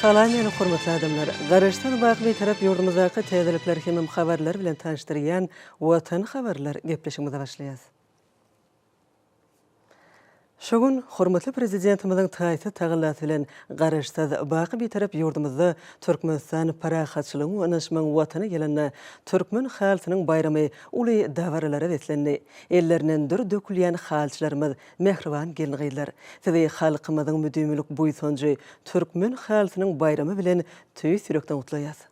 Salam ýene hormatly adamlar! Garaşsyz baky Bitarap ýurdumyzdaky täzelikler hemem habarlar bilen tanyşdyrýan Watan habarlar gepleşigimize başlaýas. Şu gün hormatly Prezidentimiziň taýsyz tagallasy bilen Garaşsyz baky Bitarap ýurdumyzda Türkmenistan parahatçylygyň we ynanyşmagyň Watany ýylynda Türkmen halysynyň baýramy uly dabaralara beslendi. Ellerinden dür dökülýän halyçylarymyz Mähriban gelin-gyzlar, sizi halkymyzyň müdimilik buýsanjy, Türkmen halysynyň baýramy bilen tüýs ýürekden gutlaýas!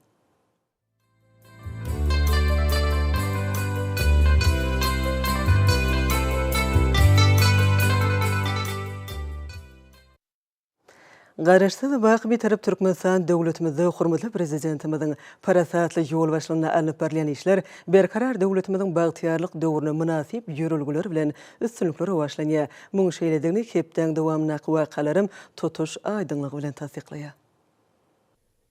Garaşsyz wak Bitarap Türkmenistan döwletimizde hormatly Prezidentimiziň parasatly ýolbaşçylygynda alnyp barylýan işler Berkarar döwletimiziň bagtyýarlyk döwrüne mynasyp ýörelgeler bilen üstünlikli rowaçlanýar. Muň şeýledigini hepdäň dowamyndaky wakalaram tutuş aýdyňlygy bilen tassyklaýar.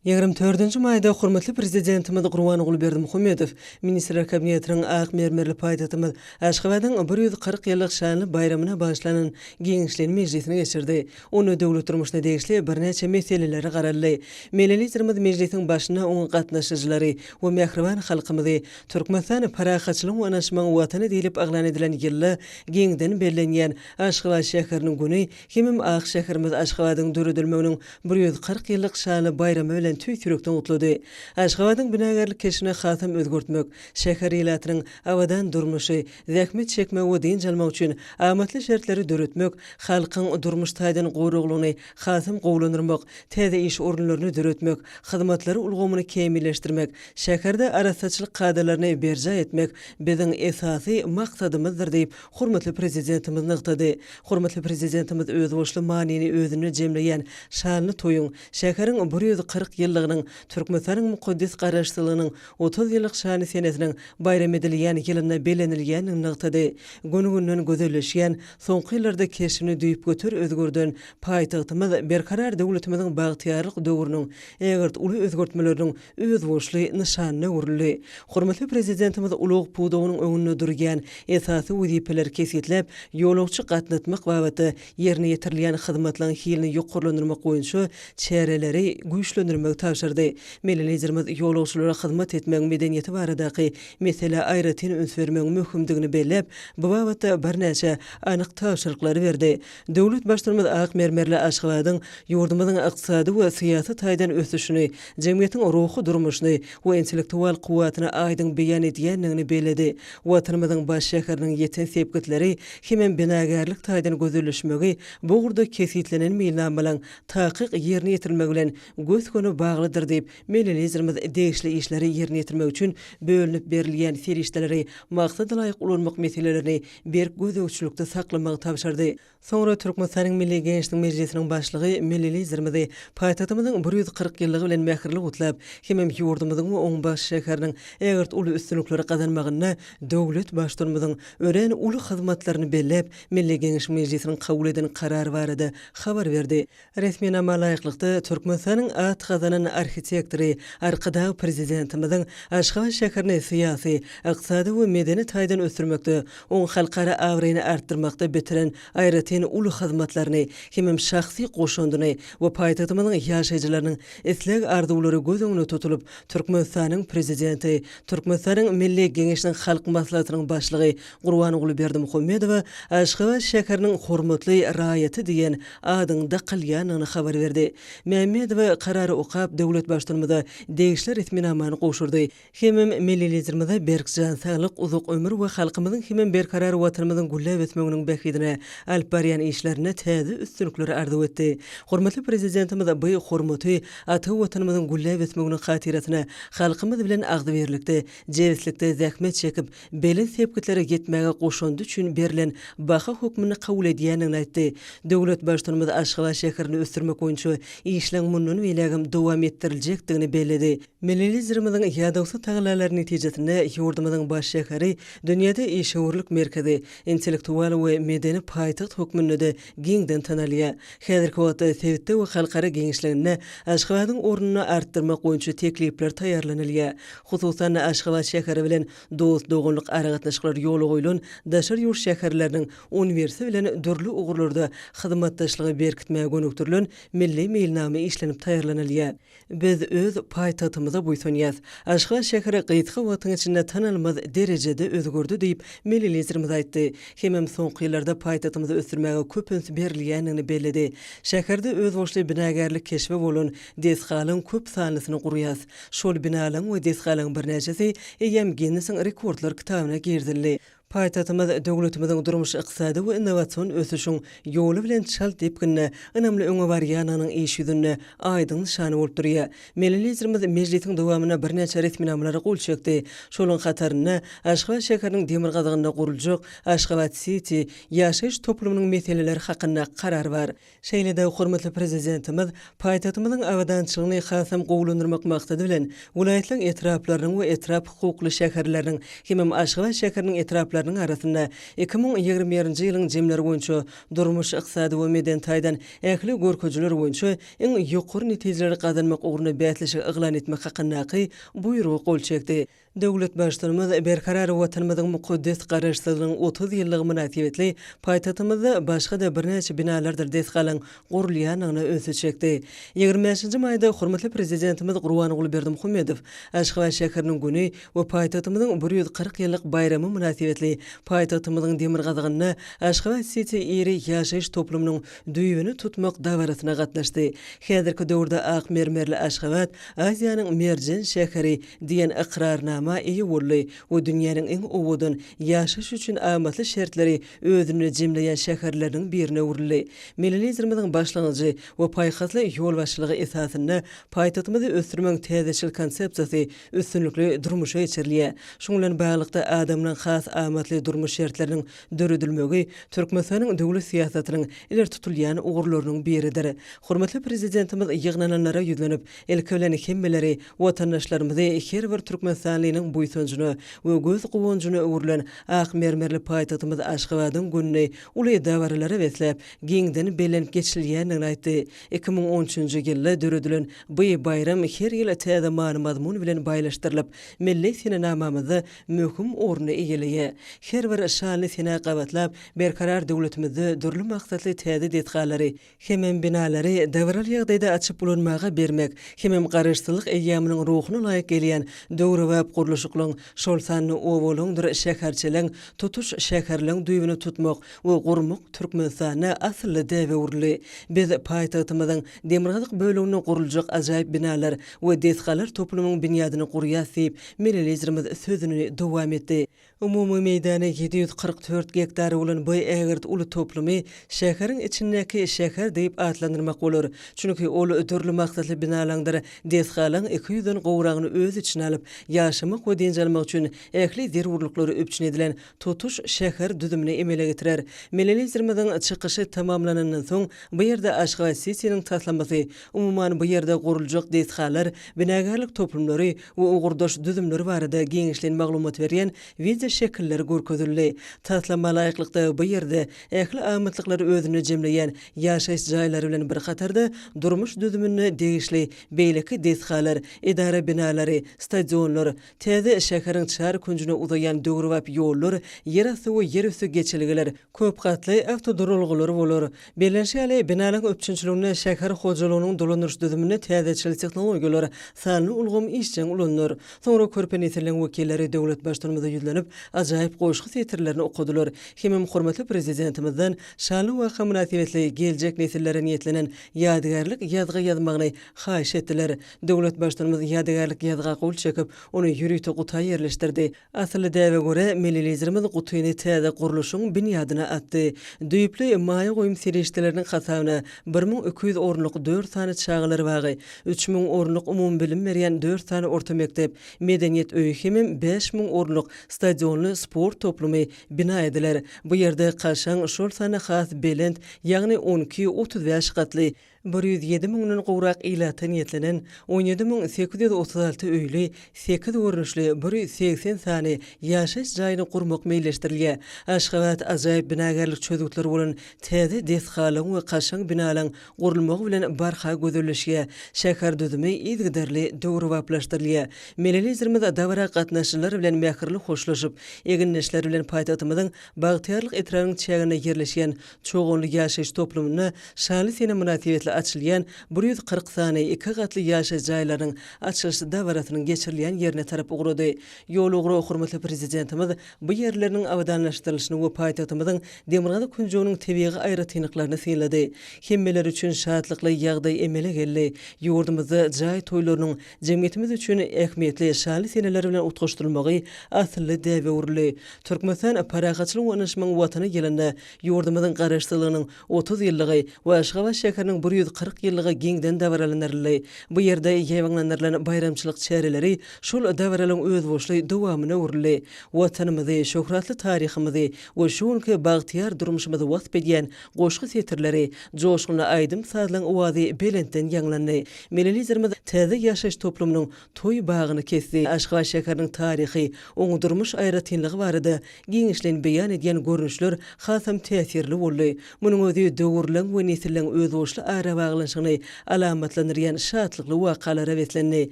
Ýigrimi dördünji maýda hormatly Prezidentimiz Gurbanguly Berdimuhamedow Ministrler Kabinetiniň ak mermerli paýtagtymyz Aşgabadyň bir ýüz kyrk ýyllyk şanly baýramyna bagyşlanan giňişleýin mejlisini geçirdi. Onda döwlet durmuşyna degişli birnäçe meselelere garaldy. Milli Liderimiz mejlisiň başynda oňa gatnaşyjylary we mähriban halkymyzy Türkmenistan parahatçylygyň we ynaşmagyň Watany diýlip yglan edilen ýylda giňden bellenýän Aşgabat şäheriniň güni Hemem ak şäherimiz Aşgabadyň döredilmeginiň bir ýüz kyrk ýyllyk şanly baýramy bilen tüýs ýürekden gutlady. Aşgabadyň binagärlik keşbini hasam özgertmek, şäher ilatynyň abadan durmuşy, zähmet çekmegi we dynç almagy üçin amatly şertleri döretmek, halkyň durmuş taýdan goraglygyny hasam gowulandyrmak, täze iş orunlaryny döretmek, hyzmatlary ulgamyny kämilleşdirmek, şäherde arassaçylyk kadalaryny berjaý etmek biziň esasy maksadymyzdyr diýip, hormatly Prezidentimiz nygtady. Hormatly Prezidentimiz özboluşly manyny özünde jemleýän şanly toýuň, şäheriň bir ýüz kyrk ýyllygynyň, Türkmenistanyň mukaddes Garaşsyzlygynyň otuz ýyllyk şanly senesiniň baýram edilýän ýylynda bellenilýändigini nygtady. Gün-günden gözelleşýän, soňky ýyllarda keşbini düýpgöter özgerden paýtagtymyz Berkarar döwletimiziň bagtyýarlyk döwrüniň ägirt uly özgertmeleriniň özboluşly nyşanyna öwrüldi. Hormatly Prezidentimiz ulag pudagynyň öňünde durýan esasy wezipeleri kesgitläp, ýolagçy gatnatmak babatda ýerine ýetirilýän hyzmatlaryň hilini ýokarlandyrmak boýunça çäreleri güýçlendirmegi tabşyrdy. Milli Liderimiz ýolagçylara hyzmat etmegiň medeniýeti baradaky meselä aýratyn üns bermegiň möhümdigini belläp, bu babatda birnäçe anyk tabşyryklary berdi. Döwlet Baştutumyz ak mermerli Aşgabadyň ýurdumyzyň ykdysady we syýasy taýdan ösüşini, jemgyýetiň ruhy durmuşyny we intellektual kuwwatyny aýdyň beýan edýändigini belledi. Watanymyzyň baş şäheriniň ýeten sepgitleri hemem binagärlik taýdan gözelleşmegi bu ugurda kesgitlenen meýilnamalaryň takyk ýerine ýetirilmegi bilen gös-göni baglydyr diýip, milli Liderimiz degişli işleri ýerine ýetirmek üçin bölünip berilýän serişdeleri maksadalaýyk ulanmak meselelerini berk gözegçilikde saklamagy tabşyrdy. Soňra Türkmenistanyň Milli Geňeşiniň Mejlisiniň Başlygy milli Liderimizi paýtagtymyzyň bir ýüz kyrk ýyllygy bilen mähirli gutlap hemem ýurdumyzyň we oň baş şäheriniň ägirt uly üstünlikleri gazanmagynda döwlet Baştutanymyzyň örän uly hyzmatlaryny belläp, Milli Geňeşiň Mejlisiniň kabul eden karary barada habar berdi. Resminama laýyklykda, Türkmenistanyň at gazanan arhitektory Arkadag Prezidentimiziň Aşgabat şäherini syýasy, ykdysady we medeni taýdan ösdürmekde, oň halkara abraýyny artdyrmakda bitiren aýratyn uly hyzmatlaryny hemem şahsy goşandyny we paýtagtymyzyň ýaşaýjylarynyň isleg-arzuwlary göz öňünde tutulyp, Türkmenistanyň Prezidenti, Türkmenistanyň Milli Geňeşiniň Halk Maslahatynyň Başlygy Gurbanguly Berdimuhamedowa Aşgabat şäheriniň hormatly raýaty diýen adyň dakylýandygyny habar berdi. Mämmedowa karary okap, döwlet Baştutanymyza degişli resminamany gowşurdy. Hemem Milli Liderimize berk jan saglyk, uzak ömür we halkymyzyň hemem berkarar Watanymyzyň gülläp ösmeginiň bähbidine alyp barýan işlerinde täze üstünlikleri arzuw etdi. Hormatly Prezidentimiz by hormaty ata Watanymyzyň gülläp ösmeginiň hatyrasyna halkymyz bilen agzybirlikde, jebislikde zähmet çekip, belent sepgitlere ýetmäge goşandy üçin berlen baha hökmünde kabul edýändigini aýtdy. Döwlet Baştutanymyz Aşgabat şäherini ösdürmek boýunça işleň mundan beýlägem dowam etdiriljekdigini belledi. Milli Liderimiziň ýadawsyz tagallalary netijesinde ýurdumyzyň baş şäheri dünýäde işewürlik merkezi, intellektual we medeni paýtagt hökmünde-de giňden tanalýar. Häzirki wagtda sebitde we halkara giňişliginde Aşgabadyň ornuny artdyrmak boýunça teklipler taýýarlanylýar. hususan-da, Aşgabat şäheri bilen dost-doganlyk aragatnaşyklary ýola goýlan daşary ýurt şäherleriniň uniwersity bilen dürli ugurlarda hyzmatdaşlygy berkitmäge gönükdirilen milli meýilnama işlenip taýýarlanylýar. Biz öz paýtagtymyza buýsanýarys. Aşgabat şäheri gysga wagtyň içinde tanalmaz derejede özgerdi diýip, milli Liderimiz aýtdy. Hemem soňky ýyllarda paýtagtymyzy ösdürmäge köp üns berilýändigini belledi. Şäherde özboluşly binagärlik keşbi bolan Desgalaň köp sanlysyny gurýas. Şol binalaň we desgalaň birnäçesi eýýäm Ginnesiň rekordlar kitabyna girizildi. Paýtagtymyz döwletimiziň durmuş-ykdysady we innowasion ösüşiň ýoly bilen çalt depginde ynamly öňe barýanynyň iş ýüzünde aýdyň nyşany bolup durýar. Milli Liderimiz mejlisiň dowamynda birnäçe resminamalara gol çekdi. Şolaryň hatarynda Aşgabat şäheriniň demirgazygynda guruljak Aşgabat-siti ýaşaýyş toplumynyň meseleleri hakynda karar bar. Şeýle-de hormatly Prezidentimiz paýtagtymyzyň abadançylygyny hasam gowulandyrmak maksady bilen, welaýatlaryň etraplarynyň we etrap hukukly şäherleriniň hemem Aşgabat şäheriniň etraplarynyň arasynda iki müň ýigrimi birinji ýylyň jemleri boýunça durmuş, ykdysady we medeni taýdan ähli görkezijiler boýunça iň ýokary netijeleri gazanmak ugrunda bäsleşigi yglan etmek hakyndaky Buýruga gol çekdi. Döwlet Baştutanymyz Berkarar Watanymyzyň mukaddes Garaşsyzlygynyň otuz ýyllygy mynasybetli paýtagtymyzda başga-da birnäçe binalardyr desgalaryň gurulýandygyna ünsi çekdi. Ýigrimi bäşinji maýda hormatly Prezidentimiz Gurbanguly Berdimuhamedow Aşgabat şäheriniň güni we paýtagtymyzyň bir ýüz kyrk ýyllyk baýramy mynasybetli paýtagtymyzyň demirgazygynda Aşgabat-siti iri ýaşaýyş toplumynyň düýbüni tutmak dabarasyna gatnaşdy. Häzirki döwürde ak mermerli Aşgabat Aziýanyň merjen şäheri diýen ykrarnama eýe boldy we dünýäniň iň owadan, ýaşaýyş üçin amatly şertleri özünde jemleýän şäherleriniň birine öwrüldi. Milli Liderimiziň başlangyjy we paýhasly ýolbaşçylygy esasynda paýtagtymyzy ösdürmegiň täzeçil konsepsiýasy üstünlikli durmuşa geçirilýär. Şunuň bilen baglylykda, adamlaryň has amatly durmuş şertleriniň döredilmegi Türkmenistanyň döwlet syýasatynyň ileri tutulýan ugurlarynyň biridir. Hormatly Prezidentimiz ýygnananlara ýüzlenip, ilki bilen hemmeleri, watandaşlarymyzy her bir türkmenistanlynyň buýsanjyna we göz guwanjyna öwrülen ak mermerli paýtagtymyz Aşgabadyň gününi uly dabaralara besläp, giňden bellenip geçilýändigini aýtdy. Iki müň on üçünji ýylda döredilen bu baýram her ýyl täze many-mazmun bilen baýlaşdyrylyp, milli senenamamyzda möhüm orny eýeleýär. Her bir şanly sene gabatlap, Berkarar döwletimizde dürli maksatly täze desgalary, hemem binalary dabaraly ýagdaýda açyp ulanmaga bermek, hemem Garaşsyzlyk eýýamynyň ruhuna laýyk gelýän döwrebap gurluşyklaryň, şol sanda obalaryňdyr şäherçeleriň, tutuş şäherleriň düýbüni tutmak we gurmak Türkmenistanda asylly däbe öwrüldi. Biz paýtagtymyzyň Demirgazyk böleginde guruljak ajaýyp binalar we desgalar toplumyň binýadyny gurýas diýip, milli Liderimiz sözüni dowam etdi. Umumy meýdany ýedi ýüz kyrk dört gektar bolan bu ägirt uly toplumy şäheriň içindäki şäher diýip atlandyrmak bolar. Çünki ol dürli maksatly binalaňdyr desgalaň iki ýüzden gowragyny öz içine alyp, ýaşamak we dynç almak üçin ähli zerurlyklary üpjün edilen tutuş şäher düzümini emele getirer. Milli Liderimiziň çykyşy tamamlanandan soň, bu ýerde Aşgabat-Sitiniň taslamasy, umuman, bu ýerde guruljak desgalar, binagärlik toplumlary we ugurdaş düzümler barada giňişleýin maglumat berýän wideoşekiller görkezildi. Taslama laýyklykda, bu ýerde ähli amatlyklary özünde jemleýän ýaşaýyş jaýlary bilen bir hatarda, durmuş düzümine degişli beýleki desgalar, edara binalary, stadionlar, Täze şäheriň çar künjüne uzaýan döwrebap ýollar, ýerasty we ýerüsti geçelgeler, köp gatly awtoduralgalar bolar. Bellenişi ýaly, binalaryň üpjünçiliginde şäher hojalygynyň dolandyryş düzüminde täzeçil tehnologiýalar, sanly ulgam işjeň ulanylar. Soňra körpe nesilleriň wekilleri döwlet Baştutanymyza ýüzlenip, ajaýyp goşgy setirlerini okadylar hemem hormatly Prezidentimizden şanly waka mynasybetli geljek nesillere niýetlenen ýadygärlik ýazgy ýazmagyny haýyş etdiler. Döwlet Baştutanymyz ýadygärlik ýazga gol çekip, ony ýörite guta ýerleşdirdi. Asylly däbe görä, milli Liderimiz gutyny täze gurluşyň binýadyna atdy. Düýpli maýa goýum serişdeleriniň hasabyna bir müň iki ýüz orunlyk dört sany çagalar bagy, üç müň orunlyk umumybilim berýän dört sany orta mekdep, medeniýet öýi hemem bäş müň orunlyk stadionly sport toplumy bina ediler. Bu ýerde kaşaň, şol sanda has belent, ýagny on iki, otuz bäş gatly, Bir ýüz ýedi müňden gowrak ilata niýetlenen on ýedi müň sekiz ýüz otuz alty öýli, sekiz görnüşli bir ýüz segsen sany ýaşaýyş jaýyny gurmak meýilleşdirilýär. Aşgabat ajaýyp binagärlik çözgütleri bolan täze desgalaryň we kaşaň binalaryň gurulmagy bilen barha gözelleşýär, şäher düzümi yzygiderli döwrebaplaşdyrylýar. Milli Liderimiz dabara gatnaşyjylar bilen mähirli hoşlaşyp, egindeşleri bilen paýtagtymyzyň Bagtyýarlyk etrabynyň çäginde ýerleşýän Çoganly ýaşaýyş toplumynda Şaly sene mynasybetli açylýan bir ýüz kyrk sany iki gatly ýaşaýyş jaýlarynyň açylyş dabarasynyň geçirilýän ýerine tarap ugrady. Ýol ugra hormatly Prezidentimiz bu ýerleriniň abadanlaşdyrylyşyny we paýtagtymyzyň demirgazyk künjeginiň tebigy aýratynlyklaryny synlady. Hemmeler üçin şatlykly ýagdaý emele geldi, ýurdumyzda jaý toýlarynyň Jemgyýetimiz üçin ähmiýetli şanly seneler bilen utgaşdyrylmagy asylly däbe öwrüldi. Türkmenistan parahatçylygyň we ynaşmagyň Watany ýylynda ýurdumyzyň Garaşsyzlygynyň otuz ýyllygy we Aşgabat şäheriniň bir ýüz kyrk ýyllygy giňden dabaralandyryldy. Bu ýerde ýaýbaňlandyrylan baýramçylyk çäreleri şol dabaralaryň özboluşly dowamyna öwrüldi. Watanymyzy, şöhratly taryhymyzy we şu günki bagtyýar durmuşymyzy wasp edýän Goşgy setirleri, joşgunly aýdym-sazlaryň owazy belentden ýaňlandy. Milli Liderimiz täze ýaşaýyş toplumynyň toý bagyny kesdi. Aşgabat şäheriniň taryhy, oňa durmuş aýratynlygy barada giňişleýin beýan edýän görnüşler hasam täsirli boldy. Munuň özi döwürleň we nesilleriň özboluşly arabaglanyşygyny alamatlandyrýan şatlykly wakalara beslendi.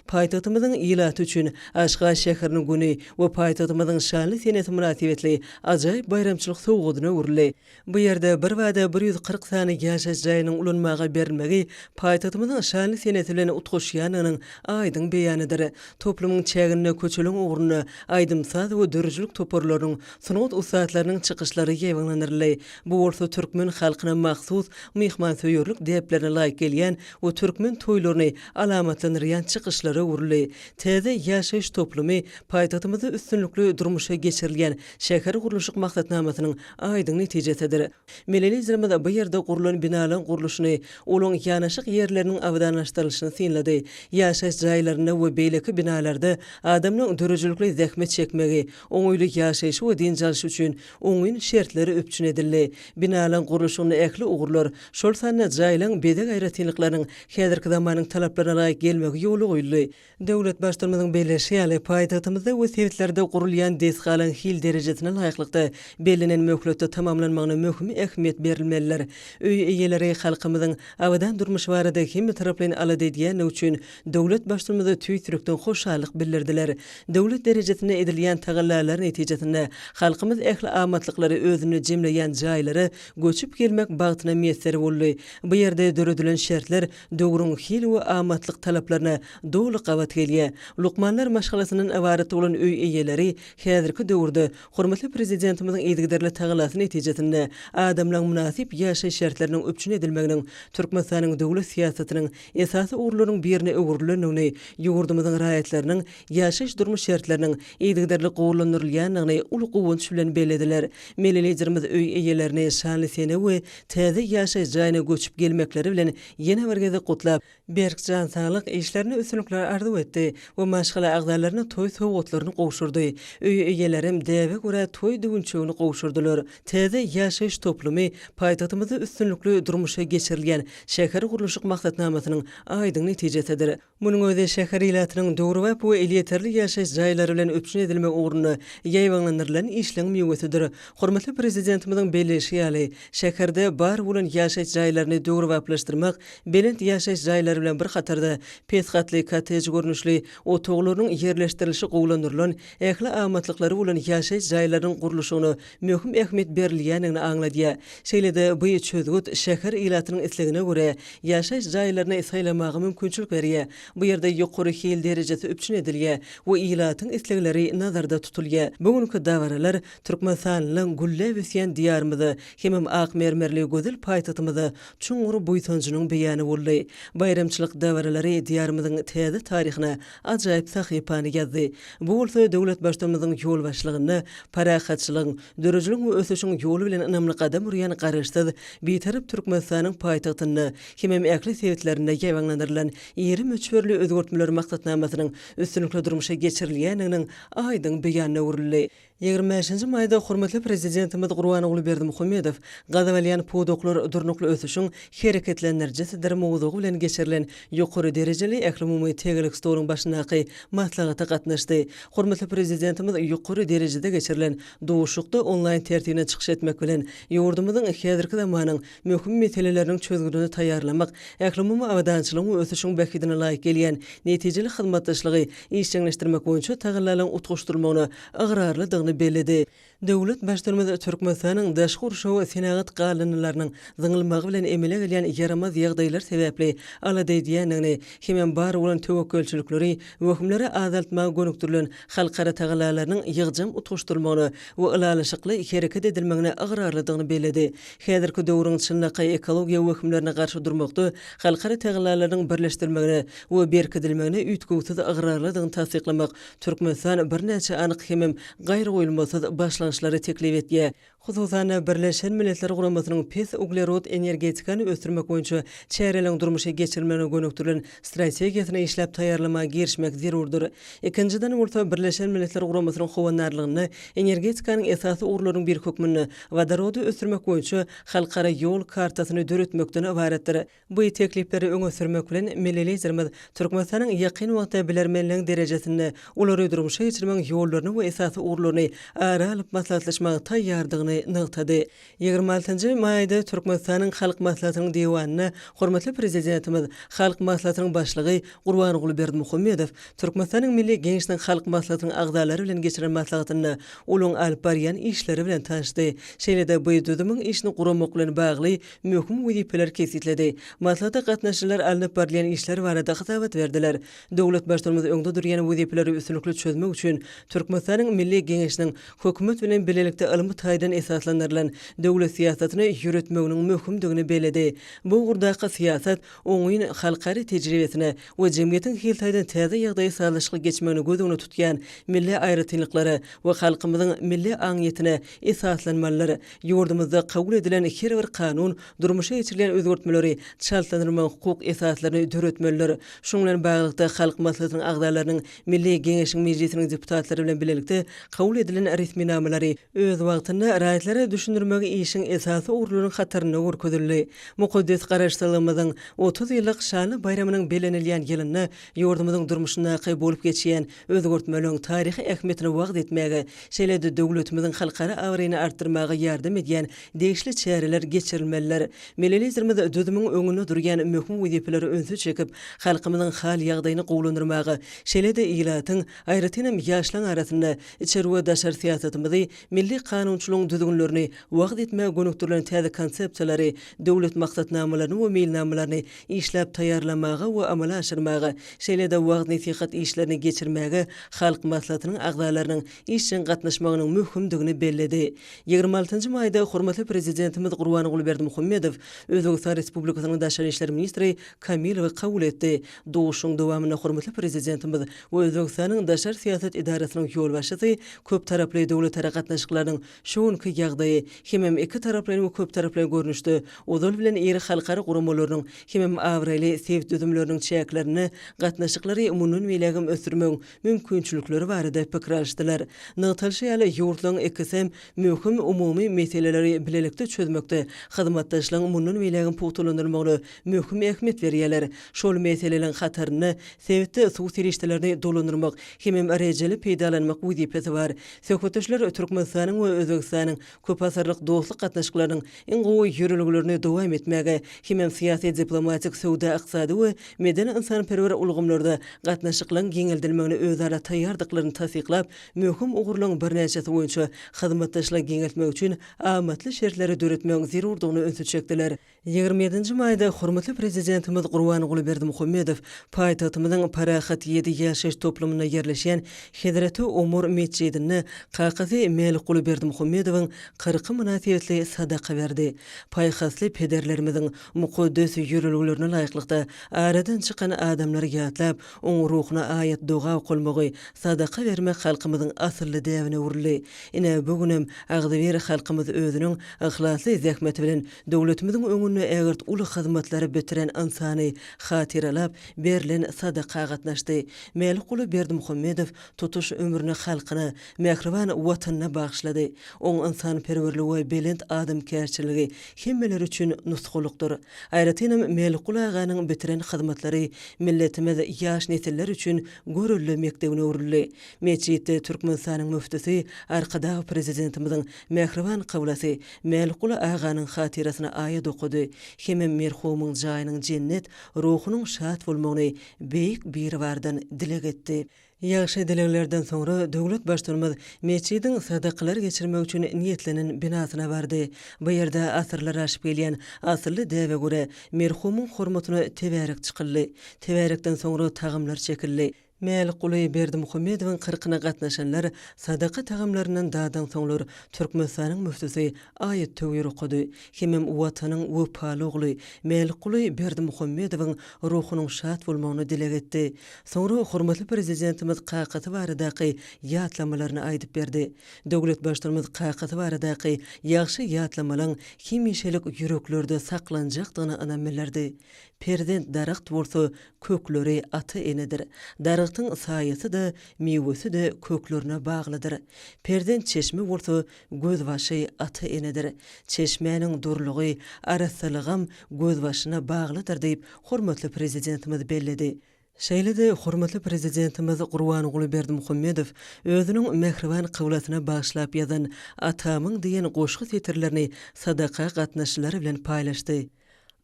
Paýtagtymyzyň ilaty üçin Aşgabat şäheriniň güni we paýtagtymyzyň şanly senesi mynasybetli ajaýyp baýramçylyk sowgadyna öwrüldi. Bu ýerde birbada bir ýüz kyrk sany ýaşaýyş jaýynyň ulanmaga berilmegi paýtagtymyzyň şanly senesi bilen utgaşýandygynyň aýdyň beýanydyr. Toplumyň çäginde köçeleriň ugrunda aýdym-saz we döredijilik toparlarynyň, sungat ussatlarynyň çykyşlary ýaýbaňlandyryldy. Bu bolsa türkmen halkyna mahsus myhmansöýerlik däplerine laýyk gelýän we türkmen toýlaryny alamatlandyrýan çykyşlara öwrüldi. Täze ýaşaýyş toplumy paýtagtymyzda üstünlikli durmuşa geçirilýän şähergurluşyk maksatnamasynyň aýdyň netijesidir. Millinizrimiz bu ýerde gurlan binalaň gurluşyny, olaň ýanaşyk ýerleriniň abadanlaşdyrylyşyny synlady. Ýaşaýyş jaýlarynda we beýleki binalarda adamlaň döredijilikli zähmet çekmegi, oňaýly ýaşaýşy we dynç alşy üçin oňyn şertler üpjün edildi. Binalaň gurluşygynda ähli ugurlar, şol sanda jaýlaň bezeg aýratynlyklarynyň häzirki zamanyň talaplaryna laýyk gelmegi ýola goýuldy. Döwlet Baştutanymyzyň belleşi ýaly, paýtagtymyzda we sebitlerde gurulýan desgalaryň hil derejesine laýyklykda, bellenen möhletde tamamlanmagyna möhüm ähmiýet berilmelidir. Öý eýeleri halkymyzyň abadan durmuşy barada hemmetaraplaýyn alada edýändigi üçin döwlet Baştutanymyza tüýs ýürekden hoşallyk bildirdiler. Döwlet derejesinde edilýän tagallalar netijesinde, halkymyz ähli amatlyklary özünde jemleýän jaýlara göçüp gelmek bagtyna miýesser boldy. Bu ýerde döredilen şertler döwrüň hil we amatlyk talaplaryna doly gabat gelýär. Lukmanlar maşgalasyndan ybarat bolan öý eýeleri häzirki döwürde hormatly Prezidentimiziň yzygiderli tagallasy netijesinde adamlaryň mynasyp ýaşaýyş şertleriniň üpjün edilmeginiň Türkmenistanyň döwlet syýasatynyň esasy ugurlarynyň birine öwrülendigini, ýurdumyzyň raýatlarynyň ýaşaýyş-durmuş şertleriniň yzygiderli gowulandyrylýandygyny uly guwanç bilen bellediler. Milli Liderimiz öý eýelerini şanly sene we täze ýaşaýyş jaýyna göçüp gelmekleri bilen ýene bir gezek gutlap, berk jan saglyk, işlerinde üstünlikler arzuw etdi we maşgala agzalaryna toý sowgatlaryny gowşurdy. Öý eýelerem däbe görä toý düwünçegini gowşurdylar. Täze ýaşaýyş toplumy paýtagtymyzda üstünlikli durmuşa geçirilýän şähergurluşyk maksatnamasynyň aýdyň netijesidir. Munuň özi şäher ilatynyň döwrebap we elýeterli ýaşaýyş jaýlary bilen üpjün edilmek ugrunda ýaýbaňlandyrylan işleň miwesidir. Hormatly Prezidentimiziň belleýşi ýaly, şäherde bar bolan ýaşaýyş jaýlaryny döwrebaplaşdyrmak belent ýaşaýyş jaýlary bilen bir hatarda pes gatly kottej görnüşli otaglarynyň ýerleşdirilişi gowulandyrylan ähli amatlyklary bolan ýaşaýyş jaýlarynyň gurluşygyna möhüm ähmiýet berilýändigini aňladýar. Şeýle-de, bu çözgüt şäher ilatynyň islegine görä ýaşaýyş jaýlaryny saýlamaga mümkinçilik berýär. Bu ýerde ýokary hil derejesi üpjün edilýär we ilatyň islegleri nazarda tutulýar. Bu günki dabaralar türkmenistanlylaryň gülläp ösýän Diýarymyza hemem ak mermerli gözel paýtagtymyza çuňňur buýsanjynyň beýany boldy. Baýramçylyk dabaralary Diýarymyzyň täze taryhyna ajaýyp sahypany ýazdy. Bu bolsa döwletbaştymyzyň ýolbaşçylygynda parahatçylygyň, dörejiligiň we ösüşiň ýoly bilen ynamly gadam urýan Garaşsyz, Bitarap Türkmenistanyň paýtagtynda hemem ähli sebitlerinde ýaýbaňlandyrylan iri möçberli özgertmeler maksatnamasynyň üstünlikli durmuşa geçirilýändiginiň aýdyň beýanyna öwrüldi. Ýigrimi bäşinji maýda hormatly Prezidentimiz Gurbanguly Berdimuhamedow Gaz alýan pudaklar durnukly ösüşiň hereketlendirijisidir mowzugy bilen geçirilen ýokary derejeli ählumumy tegelek stoluň başyndaky maslahata gatnaşdy. Hormatly Prezidentimiz ýokary derejede geçirilen duşuşykda onlaýn tertibinde çykyş etmek bilen, ýurdumyzyň häzirki zamanyň möhüm meseleleriniň çözgüdini taýýarlamak, ählumumy abadançylygyň we ösüşiň bähbidine laýyk gelýän netijeli hyzmatdaşlygy işjeňleşdirmek boýunça tagallalaryň utgaşdyrylmagyna ygrarlydygyny belledi. Döwlet Baştutumymyz Türkmenistanyň daşky gurşawy we senagat galyndylarynyň zyňylmagy bilen emele gelýän ýaramaz ýagdaýlar sebäpli alada edýändigini hemem bar bolan töwekgelçilikleri, wehimleri azaltmaga gönükdirilen halkara tagallalarynyň ýygjam utgaşdyrylmagyna we ylalaşykly hereket edilmegine ygrarlydygyny belledi. Häzirki döwrüň çynlakaý ekologiýa wehimlerine garşy durmakda halkara tagallalarynyň birleşdirilmegine we berkidilmegine üýtgewsiz ygrarlydygyny tassyklamak Türkmenistan birnäçe anyk hemem gaýragoýulmasyz başlangyçlary teklip etýär, hususan-da, Birleşen Milletler Guramasynyň pes uglerod energetikany ösdürmek boýunça çäreleriň durmuşa geçirilmegine gönükdirilen strategiýasyny işläp taýýarlamaga girişmek zerurdyr. Ikinjiden bolsa, Birleşen Milletler Guramasynyň howandarlygynda energetikanyň esasy ugurlarynyň biri hökmünde wodorody ösdürmek boýunça halkara ýol kartasyny döretmekden ybaratdyr. Bu teklipleri öňe sürmek bilen, milli Liderimiz Türkmenistanyň ýakyn wagtda bilermenligiň derejesinde olary durmuşa geçirmegiň ýollaryny we esasy ugurlaryny ara alyp maslahatlaşmaga taýýardygyny nygtady. Ýigrimi altynjy maýda Türkmenistanyň Halk Maslahatynyň Diwanynda hormatly Prezidentimiz, Halk Maslahatynyň Başlygy Gurbanguly Berdimuhamedow Türkmenistanyň Milli Geňeşiniň Halk Maslahatynyň agzalary bilen geçiren maslahatynda olaryň alyp barýan işleri bilen tanyşdy, şeýle-de bu düzümiň işini guramak bilen bagly möhüm wezipeleri kesgitledi. Maslahata gatnaşyjylar alnyp barylýan işler barada hasabat berdiler. Döwlet Baştutanymyz öňde durýan wezipeleri üstünlikli çözmek üçin Türkmenistanyň Milli Geňeşiniň Hökümet bilen bilelikde ylmy taýdan esaslandyrylan döwlet syýasatyny ýöretmeginiň möhümdigini belledi. Bu ugurdaky syýasat oňyn halkara tejribesine we jemgyýetiň hil taýdan täze ýagdaýa sazlaşykly geçmegini göz öňünde tutýan milli aýratynlyklara we halkymyzyň milli aňyýetine esaslanmalydyr. Ýurdumyzda kabul edilen her bir kanun, durmuşa geçirilýän özgertmeleri çaltlandyrmagyň hukuk esaslaryny döretmelidir. Şunuň bilen baglylykda, Halk Maslahatynyň agzalarynyň Milli Geňeşiň Mejlisiniň deputatlary bilen bilelikde kabul edilen resminamalary öz wagtynda raýatlara düşündirmegi işiň esasy ugurlarynyň hatarynda görkezildi. Mukaddes Garaşsyzlygymyzyň otuz ýyllyk şanly baýramynyň bellenilýän ýylynda ýurdumyzyň durmuşyndaky bolup geçýän Özgertmeleriň taryhy ähmiýetini wagyz etmäge, şeýle-de döwletimiziň halkara abraýyny artdyrmaga ýardam edýän degişli çäreler geçirilmelidir. Milli Liderimiz düzümiň öňünde durýan möhüm wezipeleri ünse çekip, halkymyzyň hal-ýagdaýyny gowulandyrmaga, şeýle-de ilatyň, aýratynam, ýaşlaryň arasynda içeri we daşary syýasatymyzy, milli kanunçylygyň düzgünlerini wagyz etmäge gönükdirilen täze konsepsiýalary, döwlet maksatnamalaryny we meýilnamalaryny işläp taýýarlamaga we amala aşyrmaga, şeýle-de wagyz-nesihat işlerini geçirmäge Halk Maslahatynyň agzalarynyň işjeň gatnaşmagynyň möhümdigini belledi. Ýigrimi altynjy maýda hormatly Prezidentimiz Gurbanguly Berdimuhamedow Özbegistan Respublikasynyň Daşary işler ministri Kamilowy kabul etdi. Duşuşygyň dowamynda hormatly Prezidentimiz we Özbegistanyň Daşary syýasat edarasynyň ýolbaşçysy köptaraply döwletara gatnaşyklarynyň Şu günki ýagdaýy hemem iki taraplaýyn we köptaraplaýyn görnüşde ozal bilen iri halkara guramalarynyň hemem abraýly sebit düzümleriniň çäklerinde gatnaşyklary mundan beýlägem ösdürmegiň mümkinçilikleri barada pikir alyşdylar. Nygtalyşy ýaly, ýurtlaryň ikisem möhüm umumy meseleleri bilelikde çözmekde hyzmatdaşlygyň mundan beýlägem pugtalandyrylmagyna möhüm ähmiýet berýärler. Şol meseleleriň hatarynda sebitde suw serişdelerini dolandyrmak hemem rejeli peýdalanmak wezipesi bar. Söhbetdeşler Türkmenistanyň we Özbegistanyň köpasyrlyk dostluk gatnaşyklarynyň iň gowy ýörelgelerini dowam etmäge hemem syýasy-diplomatik, söwda-ykdysady we medeni-ynsanperwer ulgamlarda gatnaşyklaryň giňeldilmegine özara taýýardyklaryny tassyklap, möhüm ugurlaryň birnäçesi boýunça hyzmatdaşlygy giňeltmek üçin amatly şertleri döretmegiň zerurdygyna ünsi çekdiler. Ýigrimi ýedinji maýda hormatly Prezidentimiz Gurbanguly Berdimuhamedow paýtagtymyzyň Parahat ýedi ýaşaýyş toplumynda ýerleşýän Hezreti Omar metjidinde kakasy Mälikguly Berdimuhamedowyň kyrky mynasybetli sadaka berdi. Paýhasly pederlerimiziň mukaddes ýörelgelerine laýyklykda, aradan çykan adamlary ýatlap, oň ruhuna aýat-doga okalmagy, sadaka bermek halkymyzyň asylly däbine öwrüldi. Ine, bu günem agzybir halkymyz özüniň yhlasly zähmeti bilen Döwletimiziň öňünde ägirt uly hyzmatlary bitiren ynsany hatyralap, berlen sadaka gatnaşdy. Mälikguly Berdimuhamedow tutuş ömrüni halkyna, mähriban Watanyna bagyşlady. Oň ynsanperwerligi we belent adamkärçiligi hemmeler üçin nusgalykdyr. Aýratynam Mälikguly aganyň bitiren hyzmatlary milletimiz ýaş nesiller üçin görelde mekdebine öwrüldi. Metjitde Türkmenistanyň Müftüsi Arkadag Prezidentimiziň mähriban kyblasy Mälikguly aganyň hatyrasyna aýat okady hemem merhumyň jaýynyň jennet, ruhunyň şat bolmagyny Beýik Biribardan dileg etdi. Ýagşy dileglerden soňra döwlet Baştutanymyz metjidiň sadakalar geçirmek üçin niýetlenen binasyna bardy. Bu ýerde asyrlar aşyp gelýän asylly däbe görä, merhumyň hormatyna tebärek çykyldy. Tebärekden soňra tagamlar çekildi. Mälikguly Berdimuhamedowyň kyrkyna gatnaşanlar sadaka tagamlaryndan dadansoňlar, Türkmenistanyň müftüsi aýat-töwir okady. Hemem Watanyň wepaly ogly Mälikguly Berdimuhamedowyň ruhunyň şat bolmagyny dileg etdi. Soňra hormatly Prezidentimiz kakasy baradaky ýatlamalaryny aýdyp berdi. Döwlet Baştutumyz kakasy baradaky ýagşy ýatlamalaň hemişelik ýüreklerde saklanjakdygyna ynam bildirdi. Perzent daragt bolsa, kökleri ata-enedir. Daragtyň saýasy-da, miwesi-de köklerine baglydyr. Perzent çeşme bolsa, gözbaşy ata-enedir. Çeşmäniň durulygy, arassalygam gözbaşyna baglydyr diýip, hormatly Prezidentimiz belledi. Şeýle-de hormatly Prezidentimiz Gurbanguly Berdimuhamedow özüniň mähriban kyblasyna bagyşlap ýazan Atamyň diýen goşgy setirlerini sadaka gatnaşyjylar bilen paýlaşdy.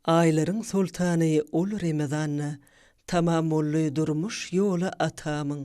Aýlaryň soltany ol Remezanda, Tamam boldy durmuş ýoly atamyň.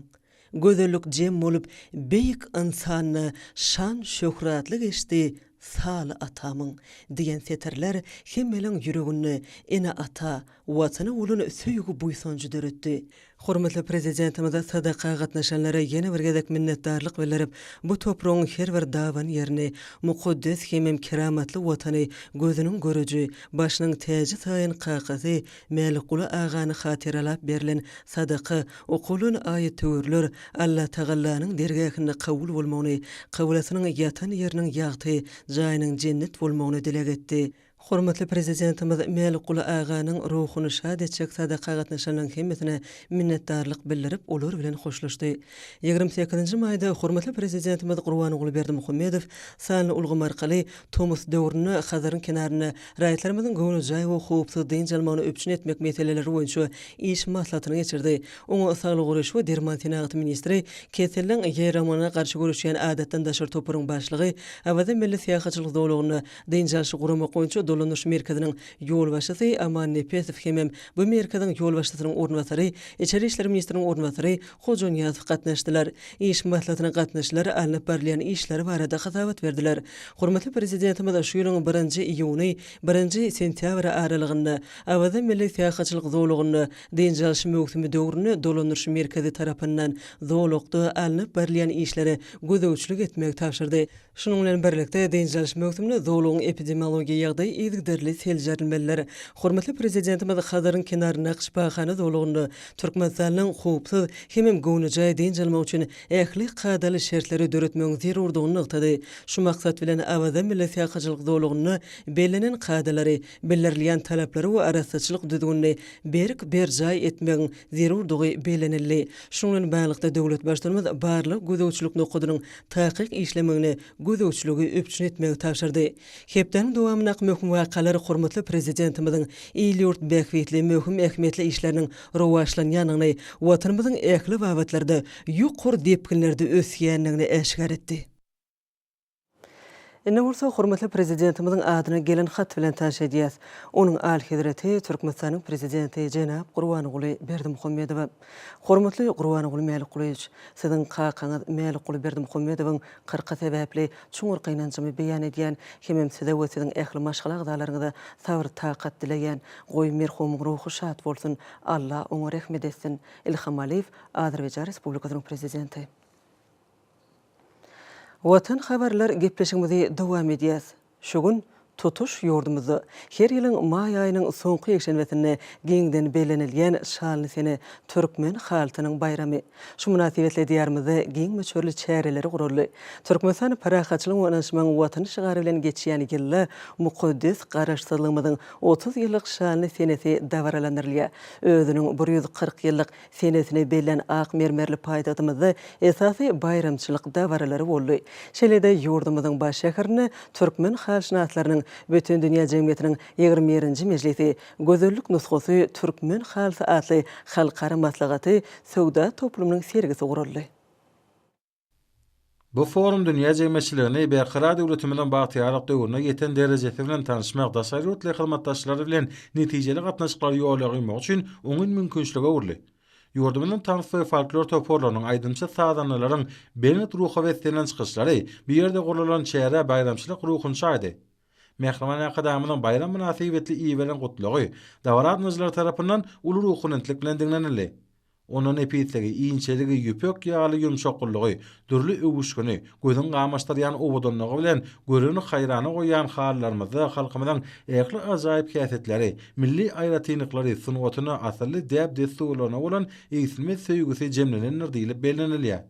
Gözellik jem bolup beýik ynsanda, Şan-şöhratly geçdi saly atamyň. Diýen setirler hemmäliň ýüreginde ene-ata, Watana bolan söýgi-buýsanjy döretdi. Hormatly Prezidentimize sadaka gatnaşanlara ýene bir gezek minnetdarlyk bildirip, bu topragyň her bir daban ýerini, mukaddes hemem keramatly Watany gözüniň göreji, başynyň täji saýan kakasy Mälikguly agany hatyralap berlen sadaka, okulan aýat-töwirler Allatagallanyň dergähinde kabul bolmagyny, kablasynyň ýatan ýeriniň ýagty, jaýynyň jennet bolmagyny dileg etdi. Hormatly Prezidentimiz Mälikguly aganyň ruhuny şat etjek sadaka gatnaşanyň hemmesine minnetdarlyk bildirip, olar bilen hoşlaşdy. Ýigrimi sekizinji maýda hormatly Prezidentimiz Gurbanguly Berdimuhamedow sanly ulgam arkaly tomus döwründe Hazaryň kenarynda raýatlarymyzyň göwnejaý we howpsuz dynç almagyny üpjün etmek meseleleri boýunça iş maslahatyny geçirdi. Oňa Saglygy goraýyş we derman senagaty ministri, keseliň ýaýramagyna garşy göreşýän adatdan daşary toparyň başlygy, Awaza milli syýahatçylyk zolagynda Dynç alyşy guramak boýunça dolanyş merkeziniň ýolbaşçysy Aman Nepesow hemem bu merkeziň ýolbaşçysynyň orunbasary, içeri işler ministriniň orunbasary Hojanyýazow gatnaşdylar. Iş maslahatyna gatnaşyjylar alnyp barylýan işler barada hasabat berdiler. Hormatly Prezidentimiz şu ýylyň birinji iýuny, birinji sentýabry aralygynda Awaza milli syýahatçylyk zolagynda dynç alyş möwsümi döwründe dolanyş merkezi tarapyndan zolakda alnyp barylýan işlere gözegçilik etmegi tabşyrdy. Şunuň bilen birlikde, dynç alyş möwsüminde zolagyň epidemiologiýa ýagdaýy yzygiderli seljerilmelidir. Hormatly Prezidentimiz Hazaryň kenaryndaky şypahana zolagynda Türkmenistanlyň howpsuz hemem göwnejaý dynç almagy üçin ähli kadaly şertleri döretmegiň zerurdygyny nygtady. Şu maksat bilen, Awaza milli syýahatçylyk zolagynda bellenen kadalary, bildirilýän talaplary we arassaçylyk düzgünini berk berjaý etmegiň zerurdygy bellenildi. Şunuň bilen baglylykda, döwlet Baştutanymyz barlag-gözegçilik nokadynyň takyk işlemegini, gözegçiligi üpjün etmegi tabşyrdy. Hepdäniň dowamyndaky möhüm wakalar hormatly Prezidentimiziň il-ýurt bähbitli möhüm ähmiýetli işleriniň rowaçlanýandygyny, Watanymyzyň ähli babatlarda ýokary depginlerde ösýändigini äşgär etdi. Indi bolsa hormatly Prezidentimiziň adyna gelen hat bilen tanyş edýäs. Onuň Alyhezreti, Türkmenistanyň Prezidenti jenap Gurbanguly Berdimuhamedowa. Hormatly Gurbanguly Mälikgulyýewiç, Siziň kakaňyz Mälikguly Berdimuhamedowyň kyrky sebäpli çuňňur gynanjymy beýan edýän hemem Size we Siziň ähli maşgala agzalaryňyza sabyr-takat dileýän. Goý, merhumyň ruhy şat bolsun, Alla oňa rehmet etsin! Ilham Aliýew, Azerbaýjan Respublikasynyň Prezidenti. Watan habarlar gepleşigimizi dowam edýäs. Şu gün tutuş ýurdumyzda her ýylyň maý aýynyň soňky ýekşenbesinde giňden bellenilýän Şalyny sene türkmen halysynyň baýramy. Şu mynasybetli Diýarymyzda giň möçberli çäreleri guraldy. Türkmenistan parahatçylygyň we ynanyşmagyň Watany şygary bilen geçýän ýylda mukaddes Garaşsyzlygymyzyň otuz ýyllyk şanly senesi dabaralandyrylýar. Özüniň bir ýüz kyrk ýyllyk senesine bellän ak mermerli paýtagtymyzda esasy baýramçylyk dabaralary boldy. Şeýle-de ýurdumyzyň baş şäherinde Türkmen halyşynaslarynyň Bütindünýä jemgyýetiniň ýigrimi birinji mejlisi, Gözellik nusgasy türkmen halysy atly halkara maslahaty söwda toplumynyň sergisi guraldy. Bu forum dünýä jemgyýetçiligini Berkarar döwletimiziň bagtyýarlyk döwrüne ýeten derejesi bilen tanyşmak, daşary ýurtly hyzmatdaşlar bilen netijeli gatnaşyklary ýola goýmak üçin oňyn mümkinçilige öwrüldi. Ýurdumyzyň tans we folklor toparlarynyň, aýdymçy-sazandalaryň belent ruha beslenýän çykyşlary, bu ýerde guralan çäre baýramçylyk ruhuny çaýdy. Mähriban Arkadagymyzyň baýram mynasybetli iberen Gutlagy dabaradynyjylar tarapyndan uly ruhubelentlik bilen diňlenildi. Onda nepisligi, inçeligi, ýüpek ýaly ýumşaklygy, dürli öwüşgini, gözüň gamaşdyrýan owadanlygy bilen göreni haýrana goýýan halylarymyzda halkymyzyň ähli ajaýyp häsiýetleri, milli aýratynlyklary, sungatyna, asylly däp-dessurlaryna bolan egsilmez söýgüsi jemlenendir diýlip bellenilýär.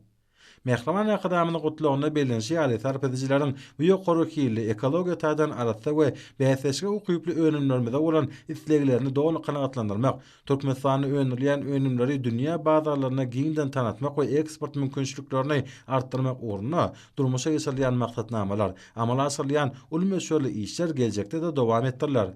Mähriban Arkadagymyzyň Gutlagynda bellenişi ýaly, sarp edijileriň bu ýokary hilli, ekologiýa taýdan arassa we bäsdeşlige ukyply önümlerimize bolan isleglerini doly kanagatlandyrmak, Türkmenistanda öndürilýän önümleri dünýä bazarlaryna giňden tanatmak we eksport mümkinçiliklerini artdyrmak ugrunda durmuşa geçirilýän maksatnamalar, amala aşyrylýan uly möçberli işler geljekde-de dowam etdiriler.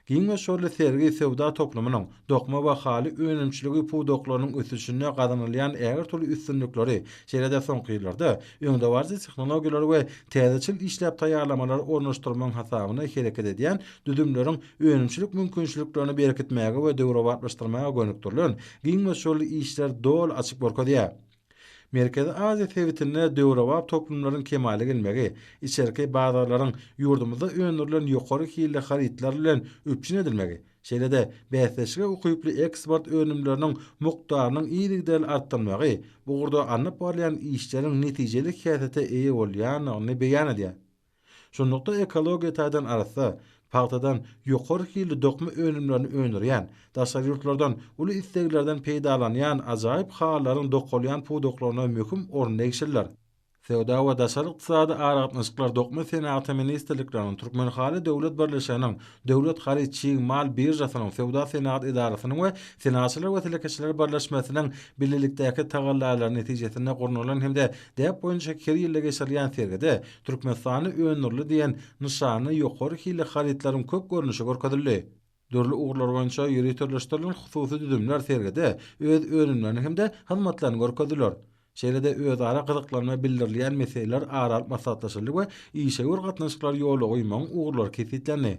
Giň we şorly sergi söwda toplumynyň dokma we haly önümçiligi pudaklarynyň ösüşinde gazanylýan ähli-türlü üstünlikleri, şeýle-de soňky ýyllarda öňdebaryjy tehnologiýalary we täzeçil işläp taýýarlamalary ornaşdyrmagyň hasabyna hereket edýän düzümleriň önümçilik mümkinçiliklerini berkitmäge we döwrebaplaşdyrmaga gönükdirilen giň we şorly işleri doly açyp görkezýär. Merkezi Aziýa sebitinde döwrebap toplumlaryň kemala gelmegi, içerki bazarlaryň ýurdumyzda öndürilen ýokary hilli harytlar bilen üpjün edilmegi, şeýle-de bäsdeşlige ukyply eksport önümleriniň mukdarynyň yzygiderli artdyrylmagy bu ugurda alnyp barylýan işleriň netijeli häsiýete eýe bolýandygyny beýan edýär. Şunlukda ekologiýa taýdan arassa, pagtadan ýokary hilli dokma önümlerini öndürýän, daşary ýurtlardan uly isleglerden peýdalanýan ajaýyp halylaryň dokalýan pudaklaryna möhüm orun degişlidir. Söwda we daşary ykdysady aragatnaşyklar, Dokma senagaty ministrlikleriniň, Türkmenhaly döwlet birleşiginiň, Döwlet haryt-çig mal biržasynyň, Söwda-senagat edarasynyň we Senagatçylar we telekeçiler birleşmesiniň bilelikdäki tagallalary netijesinde gurnalan hem-de däp boýunça her ýylda geçirilýän sergide Türkmenistanda öndürildi diýen nyşanly ýokary hilli harytlaryň köp görnüşi görkezildi. Dürli ugurlar boýunça ýöriteleşdirilen hususy düzümler sergide öz önümlerini hem-de hyzmatlaryny görkezdiler. Şeýle-de özara gyzyklanma bildirilýän meseleler ara alyp maslahatlaşyldy we işewür gatnaşyklary ýola goýmagyň ugurlary kesgitlendi.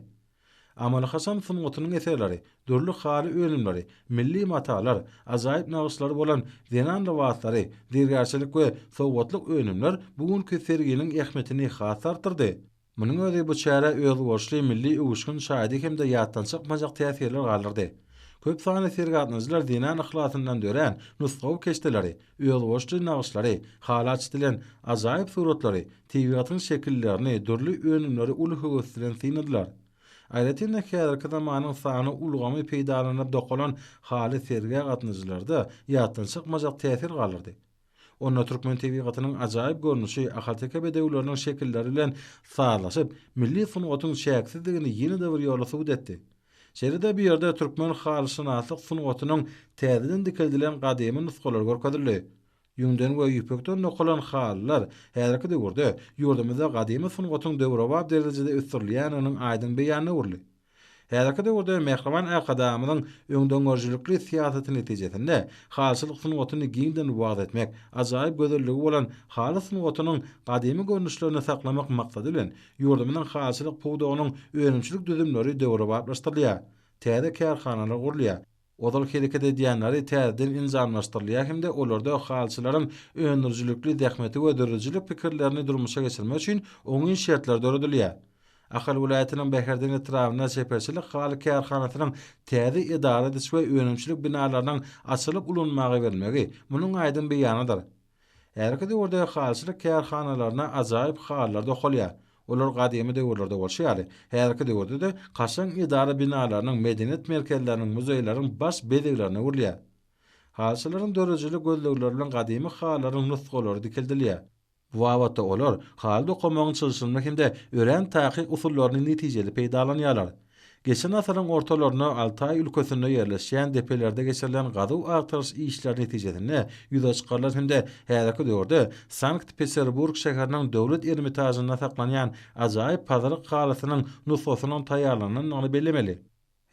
Amaly-haşam sungatynyň eserleri, dürli haly önümleri, milli matalar, ajaýyp nagyşlary bolan zenan lybaslary, zergärçilik we sowgatlyk önümler bu günki serginiň ähmiýetini has artdyrdy. Munuň özi bu çärä özboluşly milli öwüşgin çaýdy hem-de ýatdan çykmajak täsirler galdyrdy. Köp sanly sergi gatnaýjylar zenan yhlasyndan dörän nusgawy keşdeleri, Özboluşly nagyşlary, halaç dilen ajaýyp suratlary, tebigatyň şekillerini, dürli önümleri uly höwes bilen synladylar. Aýratyn-da häzirki zamanyň sany ulgamy peýdalanylyp dokalan haly sergä gatnaýjylarda ýatdan çykmajak täsir galdyrdy. Onda türkmen tebigatynyň ajaýyp görnüşi, ahalteke bedewleriniň şekilleri bilen sazlaşyp, milli sungatyň çäksizdigini ýene-de bir ýola subut etdi. Şeýle-de bu ýerde türkmen halyşynaslyk sungatynyň täzeden dikeldilen gadymy nusgalary görkezildi. Ýüňden we ýüpekden dokalan halylar häzirki döwürde ýurdumyzda gadymy sungatyň döwrebap derejede ösdürilýändiginiň aýdyň beýanyna öwrüldi. Häzirki döwürde mähriban Arkadagymyzyň öňdengörüjilikli syýasaty netijesinde halyçylyk sungatyny giňden wagyz etmek, ajaýyp gözelligi bolan haly sungatynyň gadymy görnüşlerini saklamak maksady bilen Ýurdumyzyň halyçylyk pudagynyň önümçilik düzümleri döwrebaplaşdyrylýar, täze kärhanalar gurulýar, ozal hereket edýänleri täzeden enjamlaşdyrylýar hem-de olarda halyçylaryň öndürijilikli zähmeti we döredijilik pikirlerini durmuşa geçirmek üçin oňyn şertler döredilýär. Ahal welaýatynyň Bäherden etrabynda Çeperçilik haly kärhanasynyň täze edara ediş we önümçilik binalarynyň açylyp ulanmaga berilmegi munuň aýdyň beýanydyr. Häzirki döwürde halyçylyk kärhanalaryna ajaýyp halylar dokalýar. Olar gadymy döwürlerde bolşy ýaly, häzirki döwürde-de kaşaň edara binalarynyň, medeniýet merkezleriniň, muzeýleriň baş bezeglerine öwrülýär. Halyçylaryň dörejili gözlegleri bilen gadymy halylaryň nusgalary dikeldilýär. Bu babatda olar haly dokamagyň çylşyrymly hem-de örän takyk usullaryny netijeli peýdalanýarlar. Geçen asyryň ortalarynda Altaý ülkesinde ýerleşýän depelerde geçirilen gazuw-agtaryş işleri netijesinde ýüze çykarylan hem-de häzirki döwürde Sankt-Peterburg şäheriniň Döwlet Ermitažynda saklanýan ajaýyp pazyryk halysynyň nusgasynyň taýýarlanylandygyny bellemeli.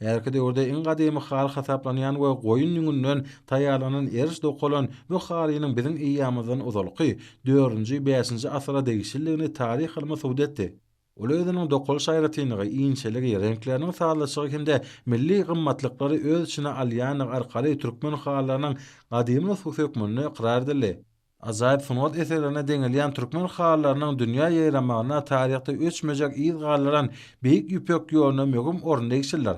Häzirki döwürde iň gadymy haly hasaplanýan we goýun ýüňünden taýýarlanan eriş dokalan bu halynyň biziň eýýamymyzdan ozalky dördünji, bäşinji asyra degişlidigini taryh ylmy subut etdi. Ol özüniň dokalyş aýratynlygy, inçeligi, reňkleriniň sazlaşygy hem-de milli gymmatlyklary öz içine alýandygy arkaly türkmen halylarynyň gadymy nusgasy hökmünde ykrar edildi. Ajaýyp sungat eserlerine deňelýän türkmen halylarynyň dünýä ýaýramagyna taryhda öçmejek yz galdyran Beýik Ýüpek ýoluna möhüm orun degişlidir.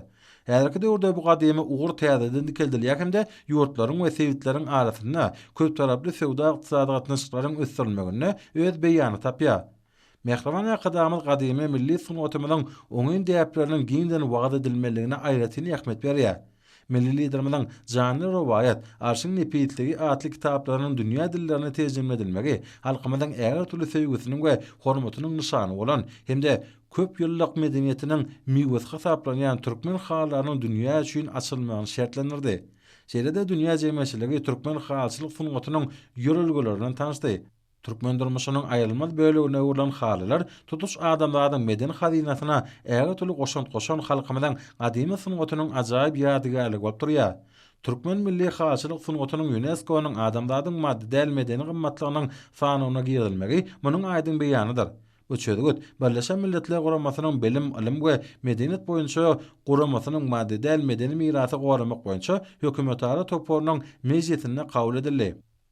Häzirki döwürde bu gadymy ugur täzeden dikeldilýär hem-de ýurtlaryň we sebitleriň arasynda köptaraply söwda-ykdysady gatnaşyklaryň ösdürilmeginde öz beýanyny tapýar. Mähriban Arkadagymyz gadymy milli sungatymyzyň oňyn däpleriniň giňden wagyz edilmeliligine aýratyn ähmiýet berýär. Milli Liderimiziň Janly rowaýat, Arşyň nepisligi atly kitaplarynyň dünýä dillerine terjime edilmegi halkymyzyň ägirtürli söýgüsiniň we hormatynyň nyşany bolan hem-de köpýyllyk medeniýetiniň miwesi hasaplanýan türkmen halylarynyň dünýä üçin açylmagyny şertlendirdi. Şeýle-de dünýä jemgyýetçiligi türkmen halyçylyk sungatynyň ýörelgeleri bilen tanyşdy. Türkmen durmuşynyň aýrylmaz bölegine öwrülen halylar tutuş adamzadyň medeni hazynasyna ägirt uly goşant goşan halkymyzyň gadymy sungatynyň ajaýyp ýadygärligi bolup durýar. Türkmen milli halyçylyk sungatynyň ÝUNESKO-nyň adamzadyň maddy däl medeni gymmatlygynyň sanawyna girizilmegi munuň aýdyň beýanydyr. Bu çözgüt Birleşen Milletler Guramasynyň Bilim, ylym we medeniýet boýunça guramasynyň maddy däl medeni mirasy goramak boýunça hökümetara toparynyň mejlisinde kabul edildi.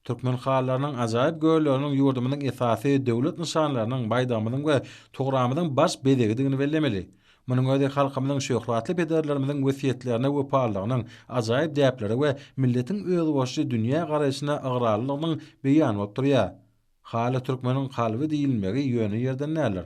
Türkmen halylarynyň ajaýyp gölleriniň ýurdumyzyň esasy döwlet nyşanlarynyň, baýdagymyzyň we togramy-zyň baş bezegidigini bellemeli. Munuň özi halkymyzyň şöhratly pederlerimiziň wesýetlerine wepalylygynyň, ajaýyp däplere we milletiň özboluşly dünýä garaýşyna ygrarlylygynyň beýany bolup durýar. Haly türkmeniň kalby diýilmegi ýöne ýerden däldir.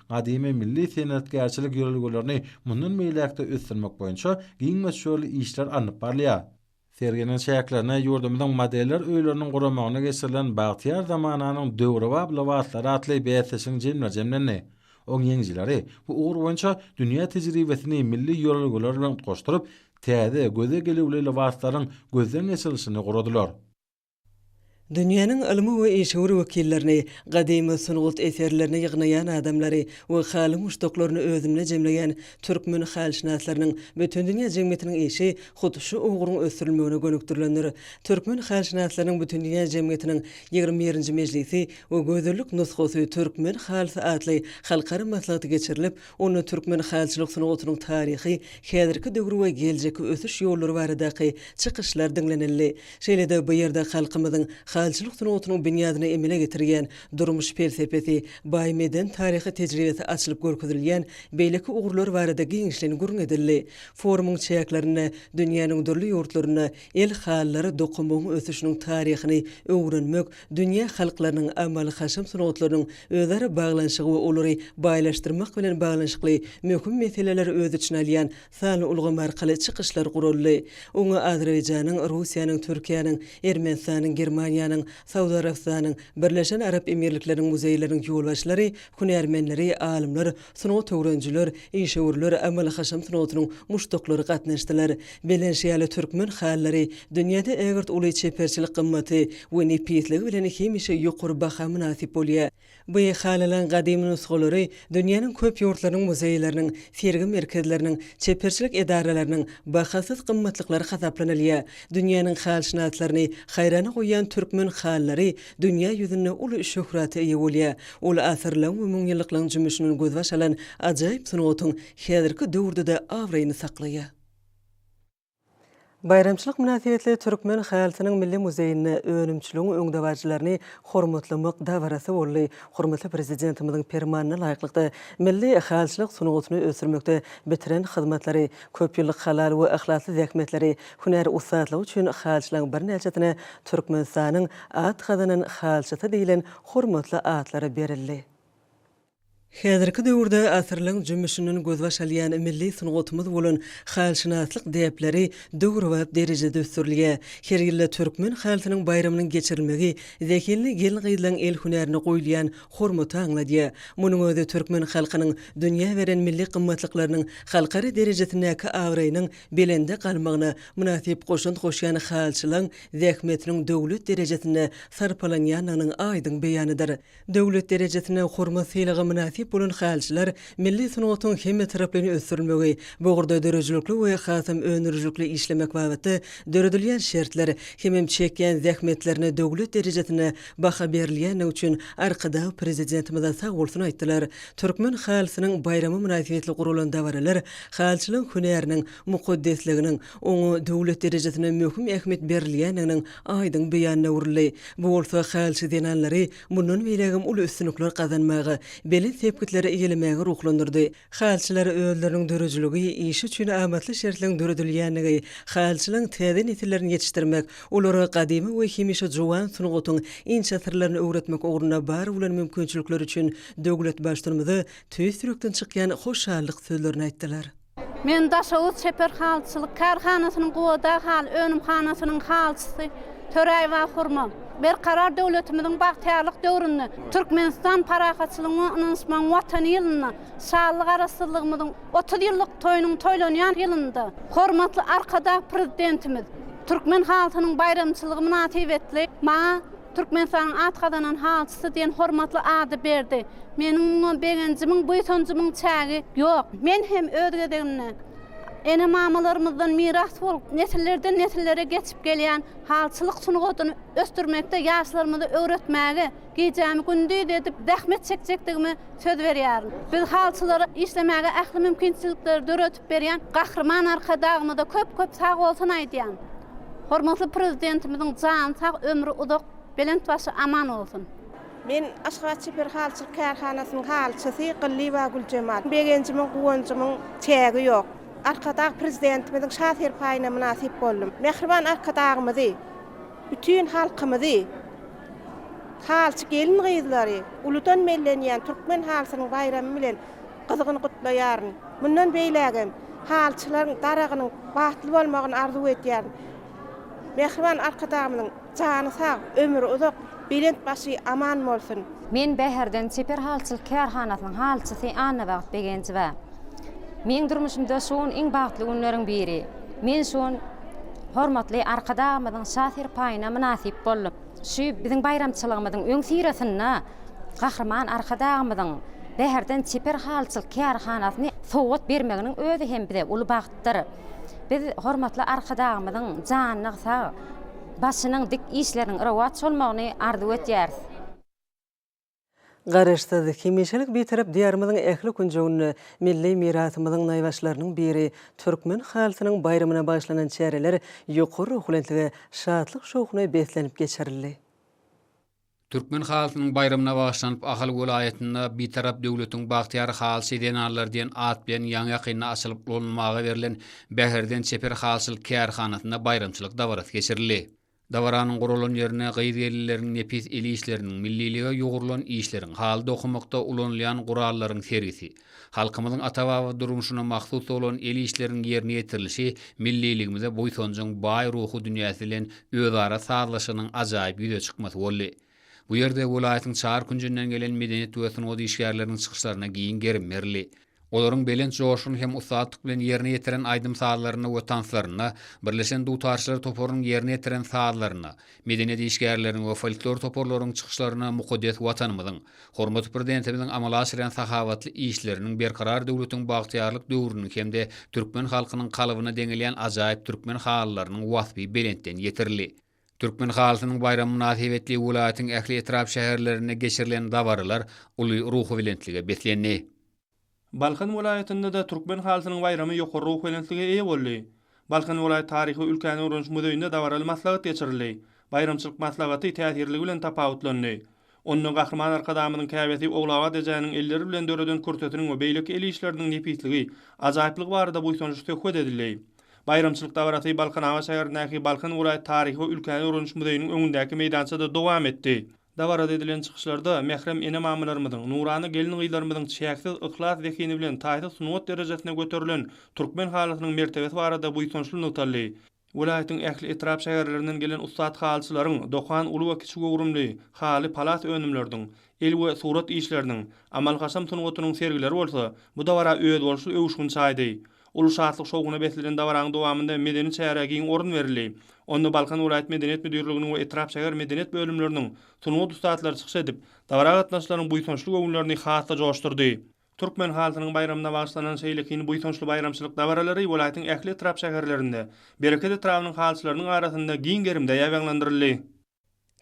gadymy milli senetgärçilik ýörelgelerini mundan beýläk-de ösdürmek boýunça giň möçberli işler alnyp barylýar. Serginiň çäklerinde ýurdumyzyň modeller öýleriniň guramagynda geçirilen Bagtyýar zamananyň döwrebap lybaslary atly bäsleşigiň jemleri jemlendi. Oň ýeňijileri bu ugur boýunça dünýä tejribesini milli ýörelgeler bilen utgaşdyryp, täze, göze gelüwli lybaslaryň gözden geçirilişini guradylar. Dünýäniň ylmy we işewür wekillerini, gadymy sungat eserlerini ýygnaýan adamlary we haly muşdaklaryny özünde jemleýän türkmen halyşynaslarynyň bütindünýä jemgyýetiniň işi hut şu ugruň ösdürilmegine gönükdirilendir. Türkmen halyşynaslarynyň bütindünýä jemgyýetiniň ýigrimi birinji mejlisi we Gözellik nusgasy türkmen halysy atly halkara maslahaty geçirilip, Onda türkmen halyçylyk sungatynyň taryhy, häzirki döwür we geljekki ösüş ýollary baradaky çykyşlar diňlenildi. Şeýle-de bu ýerde halkymyzyň halyçylyk sungatynyň binýadyny emele getirýän durmuş pelsepesi, baý medeni-taryhy tejribesi açylyp görkezilýän beýleki ugurlar barada giňişleýin gürrüň edildi. Forumyň çäklerinde dünýäniň dürli ýurtlarynda el halylary dokanmagyň ösüşiniň taryhyny öwrenmek, Dünýä halklarynyň amaly-haşam sungatlarynyň özara baglanyşygy we olary baýlaşdyrmak bilen baglanyşykly möhüm meseleleri öz içine alýan sanly ulgam arkaly çykyşlar guraldy. Oňa Azerbaýjanyň, Russiýanyň, Türkiýäniň, Ermenistanyň, Germaniýanyň, Saud Arabystanyň, Birleşen Arap Emirlikleriniň muzeýleriniň ýolbaşçylary, hünärmenleri, alymlar, Sungat öwrenijiler, işewürler, amaly-haşam sungatynyň muşdaklary gatnaşdylar. Belentşiýaly türkmen halylary dünýäde ägirt uly çeperçilik gymmaty we nepisligi bilen hemişe ýokary baha mynasyp bolýar. Bu halylaryň gadymy nusgalary dünýäniň köp ýurtlarynyň muzeýleriniň, sergi merkezleriniň, çeperçilik edaralarynyň bahasyz gymmatlyklary hasaplanylýar. Dünýäniň halşynaslaryny haýrana goýýan türkmen halylary dünýä ýüzünde uly şöhrata eýe bolýar. Ol asyrlaň we müňýyllyklaň jümmüşinden gözbaş alan ajaýyp sungatyň häzirki döwürde-de abraýyny saklaýar. Baýramçylyk mynasybetli Türkmen halysynyň milli muzeýinde önümçiligiň öňdebaryjylaryny hormatlamak dabarasy boldy. Hormatly Prezidentimiziň Permanyna laýyklykda, milli halyçylyk sungatyny ösdürmekde bitiren hyzmatlary, Köp ýyllyk halal we yhlasly zähmetleri, hünär ussatlygy üçin halçylaryň birnäçesine Türkmenistanyň At gazanan halçysy diýlen hormatly atlary berildi. Häzirki döwürde asyrlaryň jümmüşinden gözbaş alýan milli sungatymyz bolan halşynaslyk däpleri döwrebap derejede ösdürilýär. Her ýylda Türkmen haltynyň baýramynyň geçirilmegi zehinli gelin-gyzlaryň el hünärine goýulýan hormaty aňladýar. Munuň özi türkmen halkynyň dünýä beren milli gymmatlyklarynyň halkara derejesindäki abraýynyň belende galmagyna mynasyp goşant goşýan halçylaň zähmetiniň döwlet derejesinde sarpalanýandygynyň aýdyň beýanydyr. Döwlet derejesinde hormat sylaga mynasyp bolan halçylar Milli sungatyň hemmetaraplaýyn ösdürilmegi, bu ugurda döredijilikli we hasam öndürijilikli işlemek babatda döredilýän şertler hemem çekýän zähmetlerine döwlet derejesinde baha berilýändigi üçin Arkadag Prezidentimize sag bolsun aýtdylar. Türkmen halysynyň baýramy mynasybetli guralan dabaralar halyçylygyň hünäriniň mukaddesliginiň, oňa döwlet derejesinde möhüm ähmiýet berilýändiginiň aýdyň beýanyna öwrüldi. Bu bolsa halyçy zenanlary Mundan beýlägem uly üstünlikler gazanmaga, belent sepgitleri eýelemäge ruhlandyrdy. Halyçylar özleriniň döredijiligi, işi üçin amatly şertleň döredilýändigi, halyçylaryň täze nesillerini ýetişdirmek, olara gadymy we hemişe juwan sungatyň inçe syrlaryny öwretmek ugrunda bar bolan mümkinçilikleri üçin döwletbaştynymyza tüýs ýürekden çykýan hoşallyk sözlerini aýtdylar. Men Daşoguz çeper halyçylyk kärhanasynyň Gubadag haly önümhanasynyň halyçysy Töräýew Ahurma. Berkarar döwletimiziň bagtyýarlyk döwründe Türkmenistan parahatçylygyň we ynanyşmagyň Watany ýylynda, şanly Garaşsyzlygymyzyň otuz ýyllyk toýunyň toýlanýan ýylynda hormatly Arkadag Prezidentimiz türkmen halysynyň baýramçylygy mynasybetli maňa Türkmenistanyň at gazanan halçysy diýen hormatly ady berdi. Meniň muňa begenjimiň, buýsanjymyň çägi ýok. Men hem öz gezegimde, ene-mamalarymyzdan miras bolup, nesillerden-nesillere geçip gelýän halçylyk sungatyny ösdürmekde ýaşlarymyza öwretmäge gijämi-gündiz edip zähmet çekjekdigime söz berýärin. Biz halçylara işlemäge ähli mümkinçilikleri döredip, aýdyp berýän Gahryman Arkadagymyza köp köp sag bolsun aýdýan. Hormatly Prezidentimiziň jany sag ömri uzak belent başy aman bolsun. Men Aşgabat çeper halyçylyk kärhanasynyň halyçysy Gyllyýewa Güljemal. Begenjimiň, guwanjymyň çägi ýok. Arkadag Prezidentimiziň şa serpaýyna mynasyp boldum. Mähriban Arkadagymyzy, bütin halkymyzy, halyçy gelin-gyzlary, uludan bellenýän türkmen halysynyň baýramy bilen Gyzgyn gutlaýaryn. Mundan beýlägem halyçylaryň daragynyň bagtly bolmagyny arzuw edýärin. Mähriban Arkadagymyzyň jany sag, ömri uzak, belent başy aman bolsun! Men Bäherden çeper halyçylyk kärhanasynyň halyçysy Annabagt Begenjowa. Meň durmuşymda şu gün iň bagtly günleriň biri. Men şu gün hormatly Arkadagymyzyň Şa serpaýyna mynasyp boldum. Şu biziň baýramçylygymyzyň öňüsyrasynda Gahryman Arkadagymyzyň Bäherden çeper halyçylyk kärhanasyny sowgat bermeginiň özi hem bize uly bagtdyr. Biz hormatly Arkadagymyzyň janynyň sag, başynyň dik, işleriniň rowaç bolmagyny arzuw edýäris. Garaşsyz, hemişelik Bitarap Diýarymyzyň ähli künjeginde milli mirasymyzyň naýbaşylarynyň biri, türkmen halysynyň baýramyna bagyşlanan çäreler ýokary ruhubelentlige, şatlyk-şowhuna beslenip geçirildi. Türkmen halysynyň baýramyna bagyşlanyp Ahal welaýatynda Bitarap döwletiň bagtyýar halyçy zenanlary diýen at bilen ýaňy-ýakynda açylyp ulanylmaga berlen Bäherden çeper halyçylyk kärhanasynda baýramçylyk dabarasy geçirildi. Dabaranyň guralan ýerine gyz-gelinleriň nepis el işleriniň, millilige ýugrulan işleriň, haly dokamakda ulanylýan gurallaryň sergisi, halkymyzyň ata-baba durmuşyna mahsus bolan el işleriniň ýerine ýetirilişi milliligimize buýsanjyň baý ruhy dünýäsi bilen özara sazlaşygynyň ajaýyp ýüze çykmasy boldy. Bu ýerde welaýatyň çar künjünden gelen medeniýet we sungat işgärleriniň çykyşlaryna giň gerim berildi. Olaryň belent joşgun hem ussatlyk bilen ýerine ýetiren aýdym-sazlarynda we tanslarynda, birleşen dutarçylar toparynyň ýerine ýetiren sazlarynda, medeniýet işgärleriniň we folklor toparlaryň çykyşlarynda mukaddes Watanymyzyň, hormatly Prezidentimiziň amala aşyrýan sahawatly işleriniň Berkarar döwletiň bagtyýarlyk döwrüniň hem-de türkmen halkynyň kalbyna deňelýän ajaýyp türkmen halylarynyň waspy belentden ýetirildi. Türkmen halysynyň baýramy mynasybetli welaýatyň ähli etrap-şäherlerinde geçirilen dabaralar uly ruhubelentlige beslendi. Balkan welaýatynda-da Türkmen halysynyň baýramy ýokary ruhubelentlige eýe boldy. Balkan welaýat taryhy-ülkäni öwreniş muzeýinde dabaraly maslahat geçirildi. Baýramçylyk maslahaty täsirligi bilen tapawutlandy. Onda Gahryman Arkadagymyzyň käbesi Ogulabat ejäniň elleri bilen döreden kürtesiniň we beýleki el işleriniň nepisligi, ajaýyplygy barada buýsançly söhbet edildi. Baýramçylyk dabarasy Balkanabat şäherindäki Balkan welaýat taryhy we ülkäni öwreniş muzeýiniň öňündäki meýdançada dowam etdi. Dabarada edilen çykyşlarda mährem ene-mamalarymyzyň, nurana gelin-gyzlarymyzyň çäksiz yhlas zehini bilen taýsyz sungat derejesine göterilen türkmen halysynyň mertebesi barada buýsançly nygtaldy. Welaýatyň ähli etrap-şäherlerinden gelen ussat halyçylaryň, dokan uly we kiçi göwrümli, haly, palas önümleriniň, el we surat işleriniň, amal-haşam sungatynyň sergileri bolsa bu dabara özboluşly öwüşgin çaýdy. Uly şatlyk-şowhuna beslenen dabaranyň dowamynda medeni çärä giň orun berildi. Onda Balkan welaýat medeniýet müdirliginiň we etrap-şäher medeniýet bölümleriniň sungat ussatlary çykyş edip, dabara gatnaşyjylaryň buýsançly göwünlerini has-da joşdurdy. Türkmen halkynyň baýramyna bagyşlanan şeýle kyn buýsançly baýramçylyk dabaralary welaýatyň ähli etrap-şäherlerinde, Bereket etrabynyň halyçylarynyň arasynda giň gerimde ýaýbaňlandyryldy.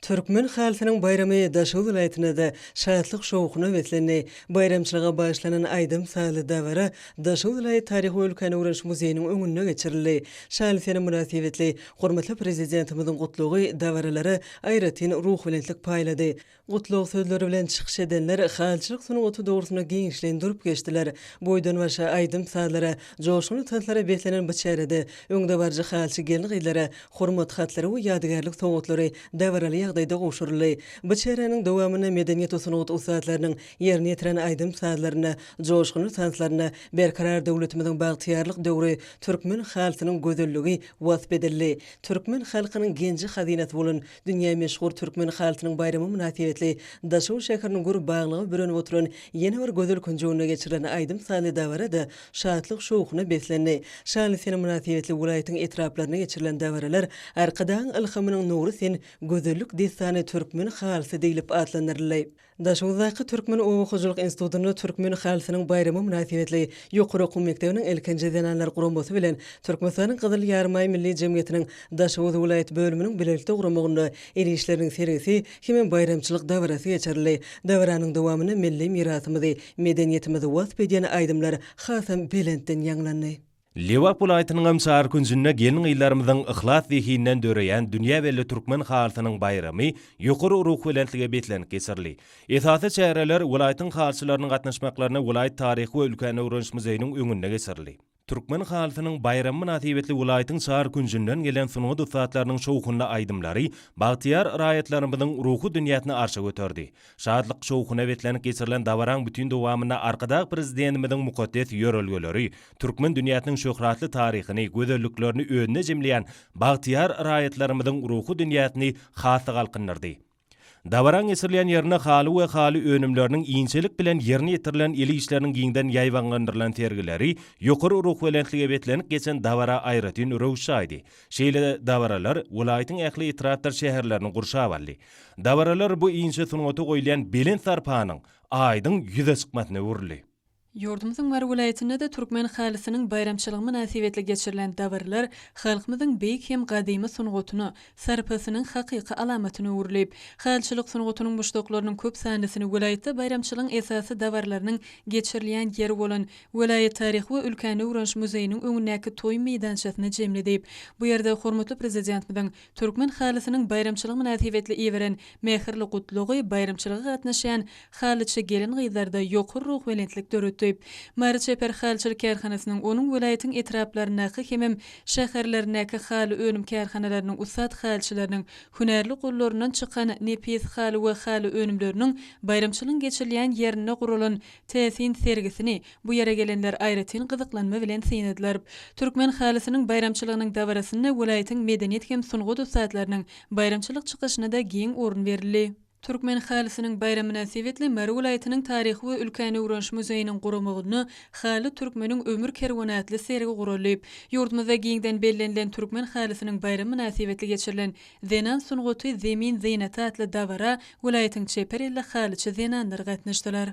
Türkmen halkynyň baýramy Daşoguz welaýatynda-da şatlyk-şowhuna beslendi. Baýramçylyga bagyşlanan aýdym-sazly dabara Daşoguz welaýat taryhy-ülkäni öwreniş muzeýiniň öňünde geçirildi. Şaly sene mynasybetli hormatly Prezidentimiziň Gutlagy dabaralara aýratyn ruhubelentlik paýlady. Gutlag sözleri bilen çykyş edenler halyçylyk sungaty dogrusynda giňişleýin durup geçdiler. Boýdan-başa aýdym-sazlara, joşgunly tanslara beslenen bu çärede öňdebaryjy halyçy gelin-gyzlara Hormat hatlary we ýadygärlik sowgatlary dabaraly ýagdaýda gowşuryldy. Bu çäräniň dowamynda medeniýet we sungat ussatlarynyň ýerine ýetiren aýdym-sazlaryna, joşgunly tanslaryna Berkarar döwletimiziň bagtyýarlyk döwri, türkmen halysynyň gözelligi wasp edildi. Türkmen halkynyň genji-hazynasy bolan Dünýä meşhur türkmen halysynyň baýramy mynasybetli Daşoguz şäheriniň gür baglyga bürenip oturan ýene bir gözel künjeginde geçirilen aýdym-sazly dabara-da şatlyk-şowhuna beslendi. Şanly sene mynasybetli welaýatyň etraplarynda geçirilen dabaralar Arkadagyň ylhamynyň nury sen, gözellik dessany türkmen halysy diýlip atlandyryldy. Daşoguzdaky Türkmen oba hojalyk institutynda Türkmen halysynyň baýramy mynasybetli ýokary okuw mekdebiniň ilkinji zenanlar guramasy bilen Türkmenistanyň Gyzyl Ýarymaý Milli jemgyýetiniň Daşoguz welaýat bölüminiň bilelikde guramagynda el işleriniň sergisi hem-ä baýramçylyk dabarasy geçirildi. Dabaranyň dowamynda milli mirasymyzy, medeniýetimizi wasp edýän aýdymlar hasam belentden ýaňlandy. Lebap welaýatynyňam çar künjünde gelin-gyzlarymyzyň yhlas zehinden döreýän dünýä belli türkmen halysynyň baýramy ýokary ruhubelentlige beslenip geçirildi. Esasy çäreler welaýatyň halyçylarynyň gatnaşmaklarynda welaýat taryhy we ülkäni öwreniş muzeýiniň öňünde geçirildi. Türkmen halysynyň baýramy mynasybetli welaýatyň çar künjünden gelen sungat ussatlarynyň şowhunly aýdymlary bagtyýar raýatlarymyzyň ruhy dünýäsini arşa göterdi. Şatlyk-şowhuna beslenip geçirilen dabaraň bütin dowamynda Arkadag Prezidentimiziň mukaddes ýörelgeleri, türkmen dünýäsiniň şöhratly taryhyny, gözelliklerini özünde jemleýän bagtyýar raýatlarymyzyň ruhy dünýäsini has-da galkyndyrdy. Dabaraň geçirilýän ýerinde haly we haly önümleriniň inçelik bilen ýerine ýetirilen el işleriniň giňden ýaýbaňlandyrylan sergileri ýokary ruhubelentlige beslenip geçen dabara aýratyn röwüş çaýdy. Şeýle dabaralar welaýatyň ähli etrapdyr şäherlerini gurşap aldy. Dabaralar bu inçe sungata goýulýan belent sarpanyň aýdyň ýüze çykmasyna öwrüldi. Ýurdumyzyň Mary welaýatynda-da türkmen halysynyň baýramçylygy mynasybetli geçirilen dabaralar halkymyzyň beýik hem gadymy sungatyna sarpasynyň hakyky alamatyna öwrülip, halyçylyk sungatynyň muşdaklarynyň köp sanlysyny welaýatda baýramçylygyň esasy dabaralarynyň geçirilýän ýeri bolan welaýat taryhy we ülkäni öwreniş muzeýiniň öňündäki toý meýdançasyna jemledi. Bu ýerde hormatly Prezidentimiziň Türkmen halysynyň baýramçylygy mynasybetli iberen mähirli gutlagy baýramçylyga gatnaşýan halyçy gelin-gyzlarda ýokary ruhubelentlik döretdi. Mary çeper halyçylyk kärhanasynyň, onuň welaýatyň etraplaryndaky hemem şäherlerindäki haly önüm kärhanalarynyň ussat halyçylarynyň hünärli gollaryndan çykan nepis haly we haly önümleriniň baýramçylygyň geçirilýän ýerinde guralan Täsin sergisini bu ýere gelenler aýratyn gyzyklanma bilen synladylar. Türkmen halysynyň baýramçylygynyň dabarasynda welaýatyň medeniýet hem sungat ussatlarynyň baýramçylyk çykyşyna-da giň orun berildi. Türkmen halysynyň baýramy mynasybetli Mary welaýatynyň Taryhy we ülkäni öwreniş muzeýiniň guramagynda Haly, türkmeniň ömür kerweny atly sergi guraldy. Ýurdumyzda giňden bellenilen Türkmen halysynyň baýramy mynasybetli geçirilen Zenan sungaty zemin zynaty atly dabara welaýatyň çeper elli halyçy zenanlary gatnaşdylar.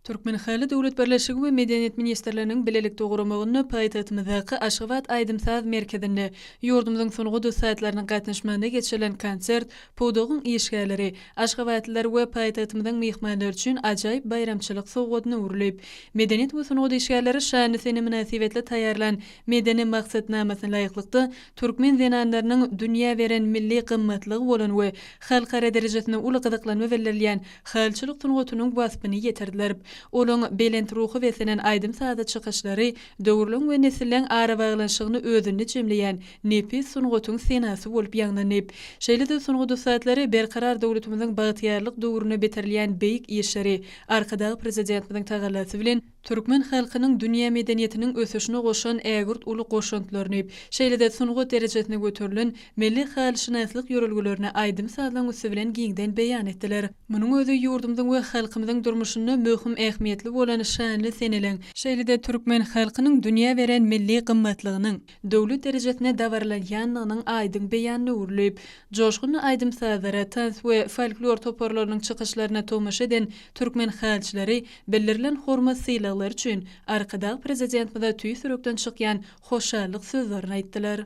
Türkmenhaly döwlet birleşigi we Medeniýet ministrliginiň bilelikde guramagynda paýtagtymyzdaky Aşgabat aýdym-saz merkezinde ýurdumyzyň sungat ussatlarynyň gatnaşmagynda geçirilen konsert pudagyň işgärleri, aşgabatlylar we paýtagtymyzyň myhmanlary üçin ajaýyp baýramçylyk sowgadyna öwrülip, medeniýet we sungat işgärleri şanly sene mynasybetli taýýarlan Medeni maksatnamasyna laýyklykda, Türkmen zenanlarynyň dünýä beren milli gymmatlygy bolan we halkara derejesinde uly gyzyklanma bildirilýän halçylyk sungatynyň waspyny ýetirdirip, olaň belent ruhy beslenen aýdym-sazy çykyşlary döwürleň we nesilleň arabaglanyşygyny özünde jemleýän nepis sungatyň senasy bolup ýaňlandy. Şeýle-de sungat ussatlary Berkarar döwletimiziň bagtyýarlyk döwründe bitirilýän beýik işleri Arkadag Prezidentimiziň tagallasy bilen türkmen halkynyň dünýä medeniýetiniň ösüşine goşan ägirt uly goşantlaryny, şeýle-de sungat derejesine göterilen milli halyşynaslyk ýörelgelerini aýdym-sazlaryň üsti bilen giňden beýan etdiler. Munuň özi ýurdumyzyň we halkymyzyň durmuşynda möhüm ähmiýetli bolan şanly seneleň, şeýle-de türkmen halkynyň dünýä beren milli gymmatlygynyň, döwlet derejesinde dabaralanýandygynyň aýdyň beýanyna öwrülip, joşgunly aýdym-sazlara, tans we folklor toparlarynyň çykyşlaryna tomaşa eden türkmen halçylary bildirilen hormat-sylaglary üçin Arkadag Prezidentimize tüýs ýürekden çykýan hoşallyk sözlerini aýtdylar.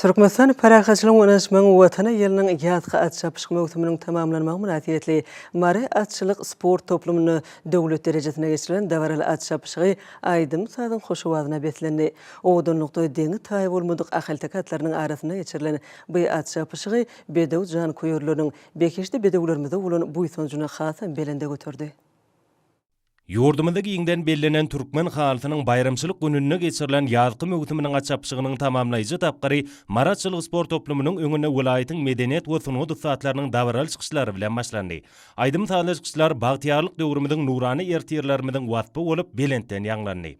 Türkmenistan parahatçylygyň we ynaşmagyň Watany ýylynyň ýazky at çapyşyk möwsüminiň tamamlanmagy mynasybetli Mary atçylyk sport toplumynda döwlet derejesinde geçirilen dabaraly at çapyşygy aýdym-sazyň hoş owazyna beslendi. Owadanlykda deňi-taýy bolmadyk ahalteke atlarynyň arasynda geçirilen by at çapyşygy bedew janköýerleriniň behişdi bedewlerimize bolan buýsanjyny hasam belende göterdi. Ýurdumyzda giňden bellenen Türkmen halysynyň baýramçylyk gününde geçirilen ýazky möwsüminiň açapşygynyň tamamlaýjy tapgyry Marat Çylyk sport toplumynyň öňünde welaýatyň medeniýet we sungat ussatlarynyň dabaraly çykyşlary bilen başlandy. Aýdym-sazly çykyşlar bagtyýarlyk döwrümiziň nurana ertirlerimiziň waspy bolup belentden ýaňlandy.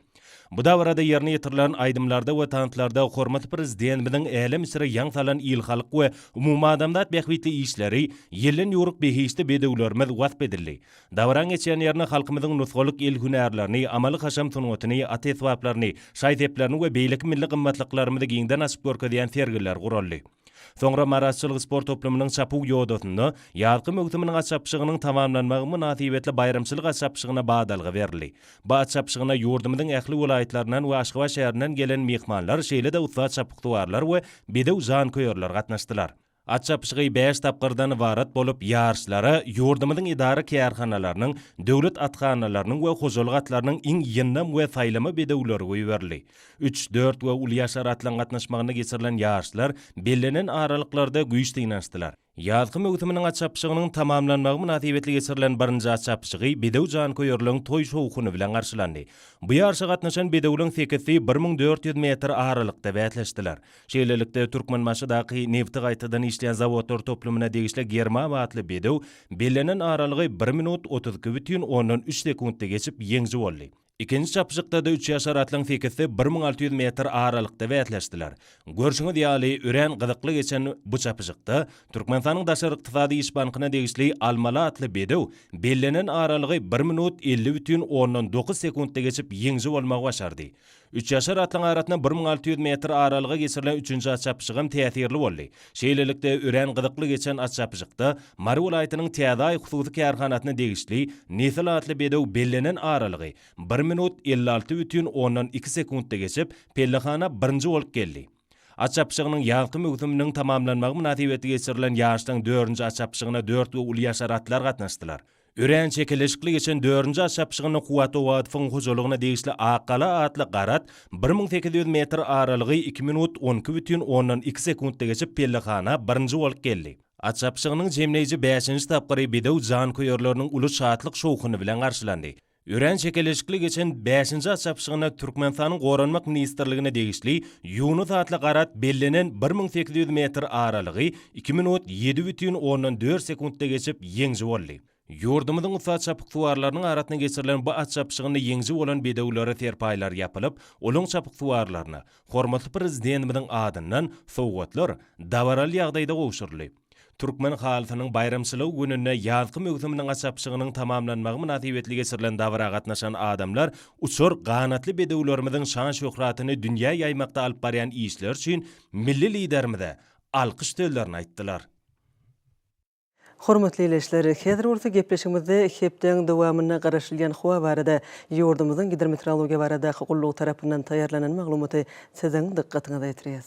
Bu dabarada ýerine ýetirilen aýdymlarda we tanslarda hormatly Prezidentimiziň älem içre ýaň salan il-halk we umumadamzat bähbitli işleri, ýelden ýüwrük behişdi bedewlerimiz wasp edildi. Dabaran geçýän ýerine halkymyzyň nusgalyk el hünärlerini, amaly-haşam sungatyny, at esbaplaryny, şaý-seplerini we beýleki milli gymmatlyklarymyzy giňden açyp görkezýän sergiler guraldy. Soňra Maraşçylyk sport toplumynyň çapuw ýodasynda ýazky möwsüminiň at çapyşygynyň tamamlanmagy mynasybetli baýramçylyk at çapyşygyna badalga berildi. Bu at çapyşygyna ýurdumyzyň ähli welaýatlaryndan we Aşgabat şäherinden gelen myhmanlar şeýle-de ussat çapyksuwarlar we bedew janköýerler gatnaşdylar. At çapyşygy bäş tapgyrdan ybarat bolup, ýaryşlara ýurdumyzyň edara-kärhanalarynyň, döwlet athanalarynyň we hojalyk atlarynyň iň ýyndam we saýlama bedewleri goýberildi. Üç, dört we uly ýaşar atlaryň gatnaşmagynda geçirilen ýaryşlar bellenen aralyklarda güýç synanyşdylar. Ýazky möwsüminiň at çapyşygynyň tamamlanmagy mynasybetli geçirilen birinji at çapyşygy bedew janköýerligiň toý-şowhuny bilen garşylandy. Bu ýaryşa gatnaşan bedewleň sekizsi bir müň dört ýüz metr aralykda bäsleşdiler. Şeýlelikde, Türkmenbaşydaky nebti gaýtadan işleýän zawodlar toplumyna degişli Germaw atly bedew bellenen aralygy bir minut otuz iki bütin ondan üç sekuntda geçip ýeňji boldy. Ikinji çapyşykda-da üç ýaşar atlaryň sekizsi bir müň alty ýüz metr aralykda bäsleşdiler. Görşüňiz ýaly, örän gyzykly geçen bu çapyşykda Türkmenistanyň Daşary ykdysady iş bankyna degişli Almaly atly bedew bellenen aralygy bir minut elli bütin ondan dokuz sekuntda geçip ýeňji bolmagy başardy. Üç ýaşar atlyň arasynda bir müň alty ýüz metr aralyga geçirilen üçünji at çapyşygam täsirli boldy. Şeýlelikde, örän gyzykly geçen at çapyşykda Mary welaýatynyň Täzeaý hususy kärhanasyna degişli Nesil atly bedew bellenen aralygy bir minut, elli alty bütin ondan iki sekuntda geçip, pellehana birinji bolup geldi. At çapyşygynyň ýazky möwsüminiň tamamlanmagy mynasybetli geçirilen ýaryşlaryň dördünji at çapyşygyna dört we uly ýaşar atlar gatnaşdylar. Örän çekeleşikli geçen dördünji at çapyşygynda Kuwwat Owadowyň hojalygyna degişli Ak gala atly gara at bir müň sekiz ýüz metr aralygy iki minut on iki bütin ondan iki sekuntda geçip pellehana birinji bolup geldi. At çapyşygynyň jemleýji bäşinji tapgyry bedew janköýerleriniň uly şatlyk-şowhuny bilen garşylandy. Örän çekeleşikli geçen bäşinji at çapyşygynda Türkmenistanyň Goranmak ministrligine degişli Ýunus atly gara at bellenen bir müň sekiz ýüz metr aralygy iki minut ýedi bütin ondan dört sekuntda geçip ýeňji boldy. Ýurdumyzyň ussat çapyksuwarlarynyň arasynda geçirilen bu at çapyşygynda ýeňji bolan bedewlere serpaýlar ýapylyp, olaň çapyksuwarlaryna hormatly Prezidentimiziň adyndan sowgatlar dabaraly ýagdaýda gowşuryldy. Türkmen halysynyň baýramçylygy gününde ýazky möwsüminiň açapyşygynyň tamamlanmagy mynasybetli geçirilen dabara gatnaşan adamlar uçar ganatly bedewlerimiziň şan-şöhratyny dünýä ýaýmakda alyp barýan işleri üçin milli Liderimize alkyş sözlerini aýtdylar. Hormatly ildeşler, häzir bolsa gepleşigimizde hepdäň dowamynda garaşylýan howa barada ýurdumyzyň Gidrometeorologiýa baradaky gullugy tarapyndan taýýarlanan maglumaty siziň dykgatyňyza ýetirýäs.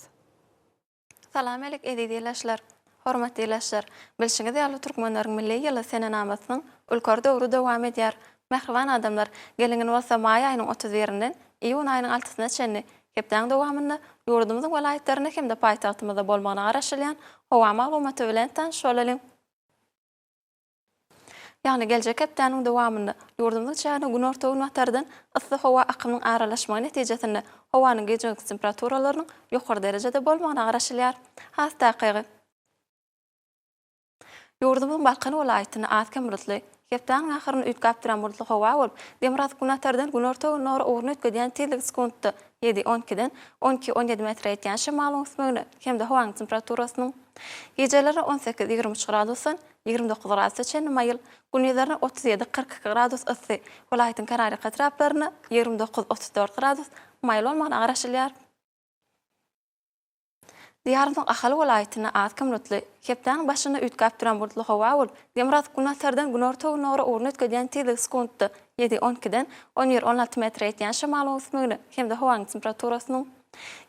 Salam alik eziz ilaçlar. Hormatly ilaçlar, bilşiňiz ýaly Türkmenleriň milli ýyly senenamasynyň ülker döwri dowam edýär. Mähriban adamlar, gelingin bolsa maý aýynyň otuz birinden iýun aýynyň altysyna çenli hepdäň dowamynda ýurdumyzyň welaýatlarynda hem-de paýtagtymyzda bolmagyna garaşylýan howa maglumaty bilen tanyşyp bolalyň. Ýagny geljek hepdäniň dowamynda ýurdumyz içerine günorta-günbatardan yssy howa akymynyň aralaşmagy netijesinde howanyň gije-gündiz temperaturalarynyň ýokary derejede bolmagyna garaşylýar. Has takygy, ýurdumyzyň Balkan welaýatynda az-kem bulutly, hepdäniň ahyryny üýtgäp duran bulutly howa bolup, demirgazyk-günbatardan günorta-gündogara ugruny üýtgedýän tizligi sekuntda ýedi, on ikiden on iki, on ýedi metre ýetýän şemalyň ösmegine hem-de howanyň temperaturasynyň gijeleri on sekiz, ýigrimi üç gradusdan, Ýigrimi dokuz gradusa çenli maýyl, gündiz-erne otuz ýedi, kyrk iki gradus yssy, welaýatyň kärarýaka etraplarynda, ýigrimi dokuz, otuz dört gradus, maýyl bolmagyna garaşylýar. Diýarymyzyň Ahal welaýatynda az kim bulutly, hepdäniň başynda üýtgäp duran bulutly howa bolup, Demirgazyk günbatardan günorta-günorä ugruny üýtgedýän tizligi sekuntda ýedi, on ikiden on bir, on alty metre ýetýän şamalyň öwüsmegine hem-de howanyň temperaturasynyň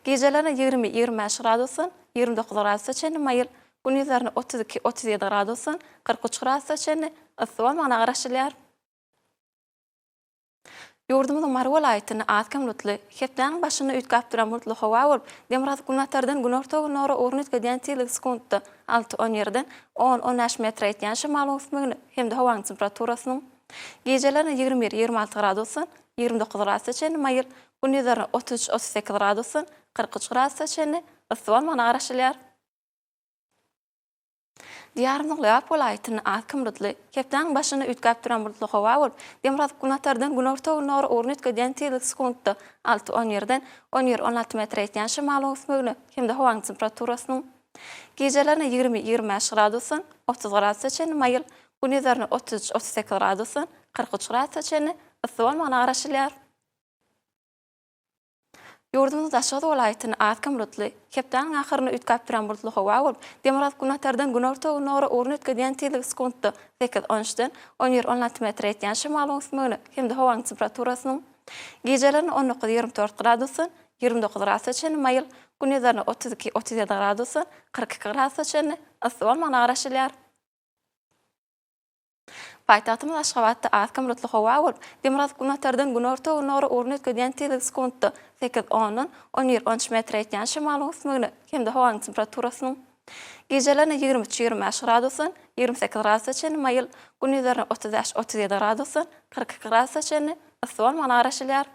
gijelerine ýigrimi, ýigrimi bäş gradusdan ýigrimi dokuz gradusa çenli maýyl, Gün ýüzlerinde otuz iki, otuz ýedi gradusdan kyrk üç gradusa çenli yssy bolmagyna garaşylýar. Ýurdumyzyň Mary welaýatynda az-kem bulutly, hepdäniň başynda üýtgäp duran bulutly howa bolup, demirgazyk-günbatardan günorta-gündogara ugruny üýtgedýän tizligi sekuntda alty, on ýerden on, on bäş metre ýetýän şemalyň üsmegine hem-de howanyň temperaturasynyň gijelerine ýigrimi bir, ýigrimi alty gradusdan ýigrimi dokuz gradusa çenli maýyl, gün ýüzlerinde otuz üç, otuz sekiz gradusdan kyrk üç gradusa çenli yssy bolmagyna garaşylýar. Diýarymyzyň Lebap welaýatynda az kim bulutly, hepdäniň başynda üýtgäp duran bulutly howa bolup, demirgazyk günbatardan günorta-gündogry ugruny üýtgedýän tizligi sekuntda alty-on birden on bir-on alty metr ýetýän şemalyň öwüsmegine hem-de howanyň temperaturasynyň gijelerine ýigrimi-ýigrimi bäş gradusdan otuz gradusa çenli maýyl, gündizlerine otuz üç-otuz sekiz gradusdan kyrk üç gradusa çenli yssy bolmagyna garaşylýar. Ýurdumyzyň Daşoguz welaýatyny az-kem bulutly, hepdäniň ahyryny üýtgäp duran bulutly howa bolup, demirgazyk-günbatardan günorta-gündogra ugruny ötgedýän tizligi sekuntda sekiz, on üçden on bir, on alty metre ýetýän şemalyň üsmegine hem-de howanyň temperaturasynyň gijelerine on dokuz, ýigrimi dört gradusdan ýigrimi dokuz gradusa çenli maýyl, gündizlerine otuz iki, otuz ýedi gradusdan kyrk iki gradusa çenli yssy bolmagyna garaşylýar. Paýtagtymyz Aşgabatda az-kem bulutly howa bolup, demirgazyk günbatardan günorta-günorä ugruny üýtgedýän tizligi sekuntda sekiz ondan on bir on üç metre ýetýän şemalyň üsmegine hem-de howanyň temperaturasynyň gijelerine ýigrimi üç ýigrimi bäş gradusdan ýigrimi sekiz gradusa çenli maýyl, gündizlerine otuz bäş otuz ýedi gradusdan kyrk iki gradusa çenli yssy bolmagyna garaşylýar.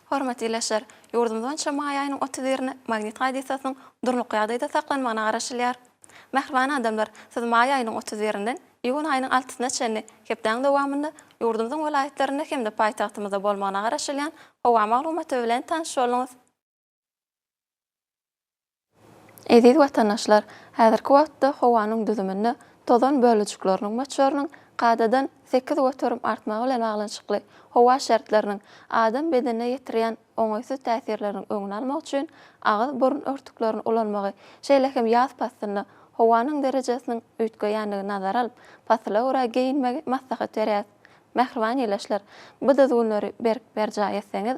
Hormatly ildeşler! Ýurdumyz boýunça maý aýynyň otuz birine Magnit hadysasynyň durnukly ýagdaýda saklanmagyna garaşylýar. Mähriban adamlar, siz maý aýynyň otuz birinden iýun aýynyň altysyna çenli hepdäň dowamynda ýurdumyzyň welaýatlarynda hem-de paýtagtymyzda bolmagyna garaşylýan howa maglumaty bilen tanyş bolduňyz. Eziz watandaşlar, häzirki wagtda howanyň düzüminde tozan bölejikleriniň möçberiniň kadadan sekiz göterim artmagy bilen baglanyşykly howa şertleriniň adam bedenine ýetirýän oňaýsyz täsirleriniň öňüni almak üçin agyz, burun örtüklerini ulanmagy, şeýle hem ýaz paslynda howanyň derejesiniň üýtgeýändigini nazara alyp, pasyla görä geýinmegi maslahat berýäris. Mähriban ildeşler, bu düzgünleri berk berjaý etseňiz,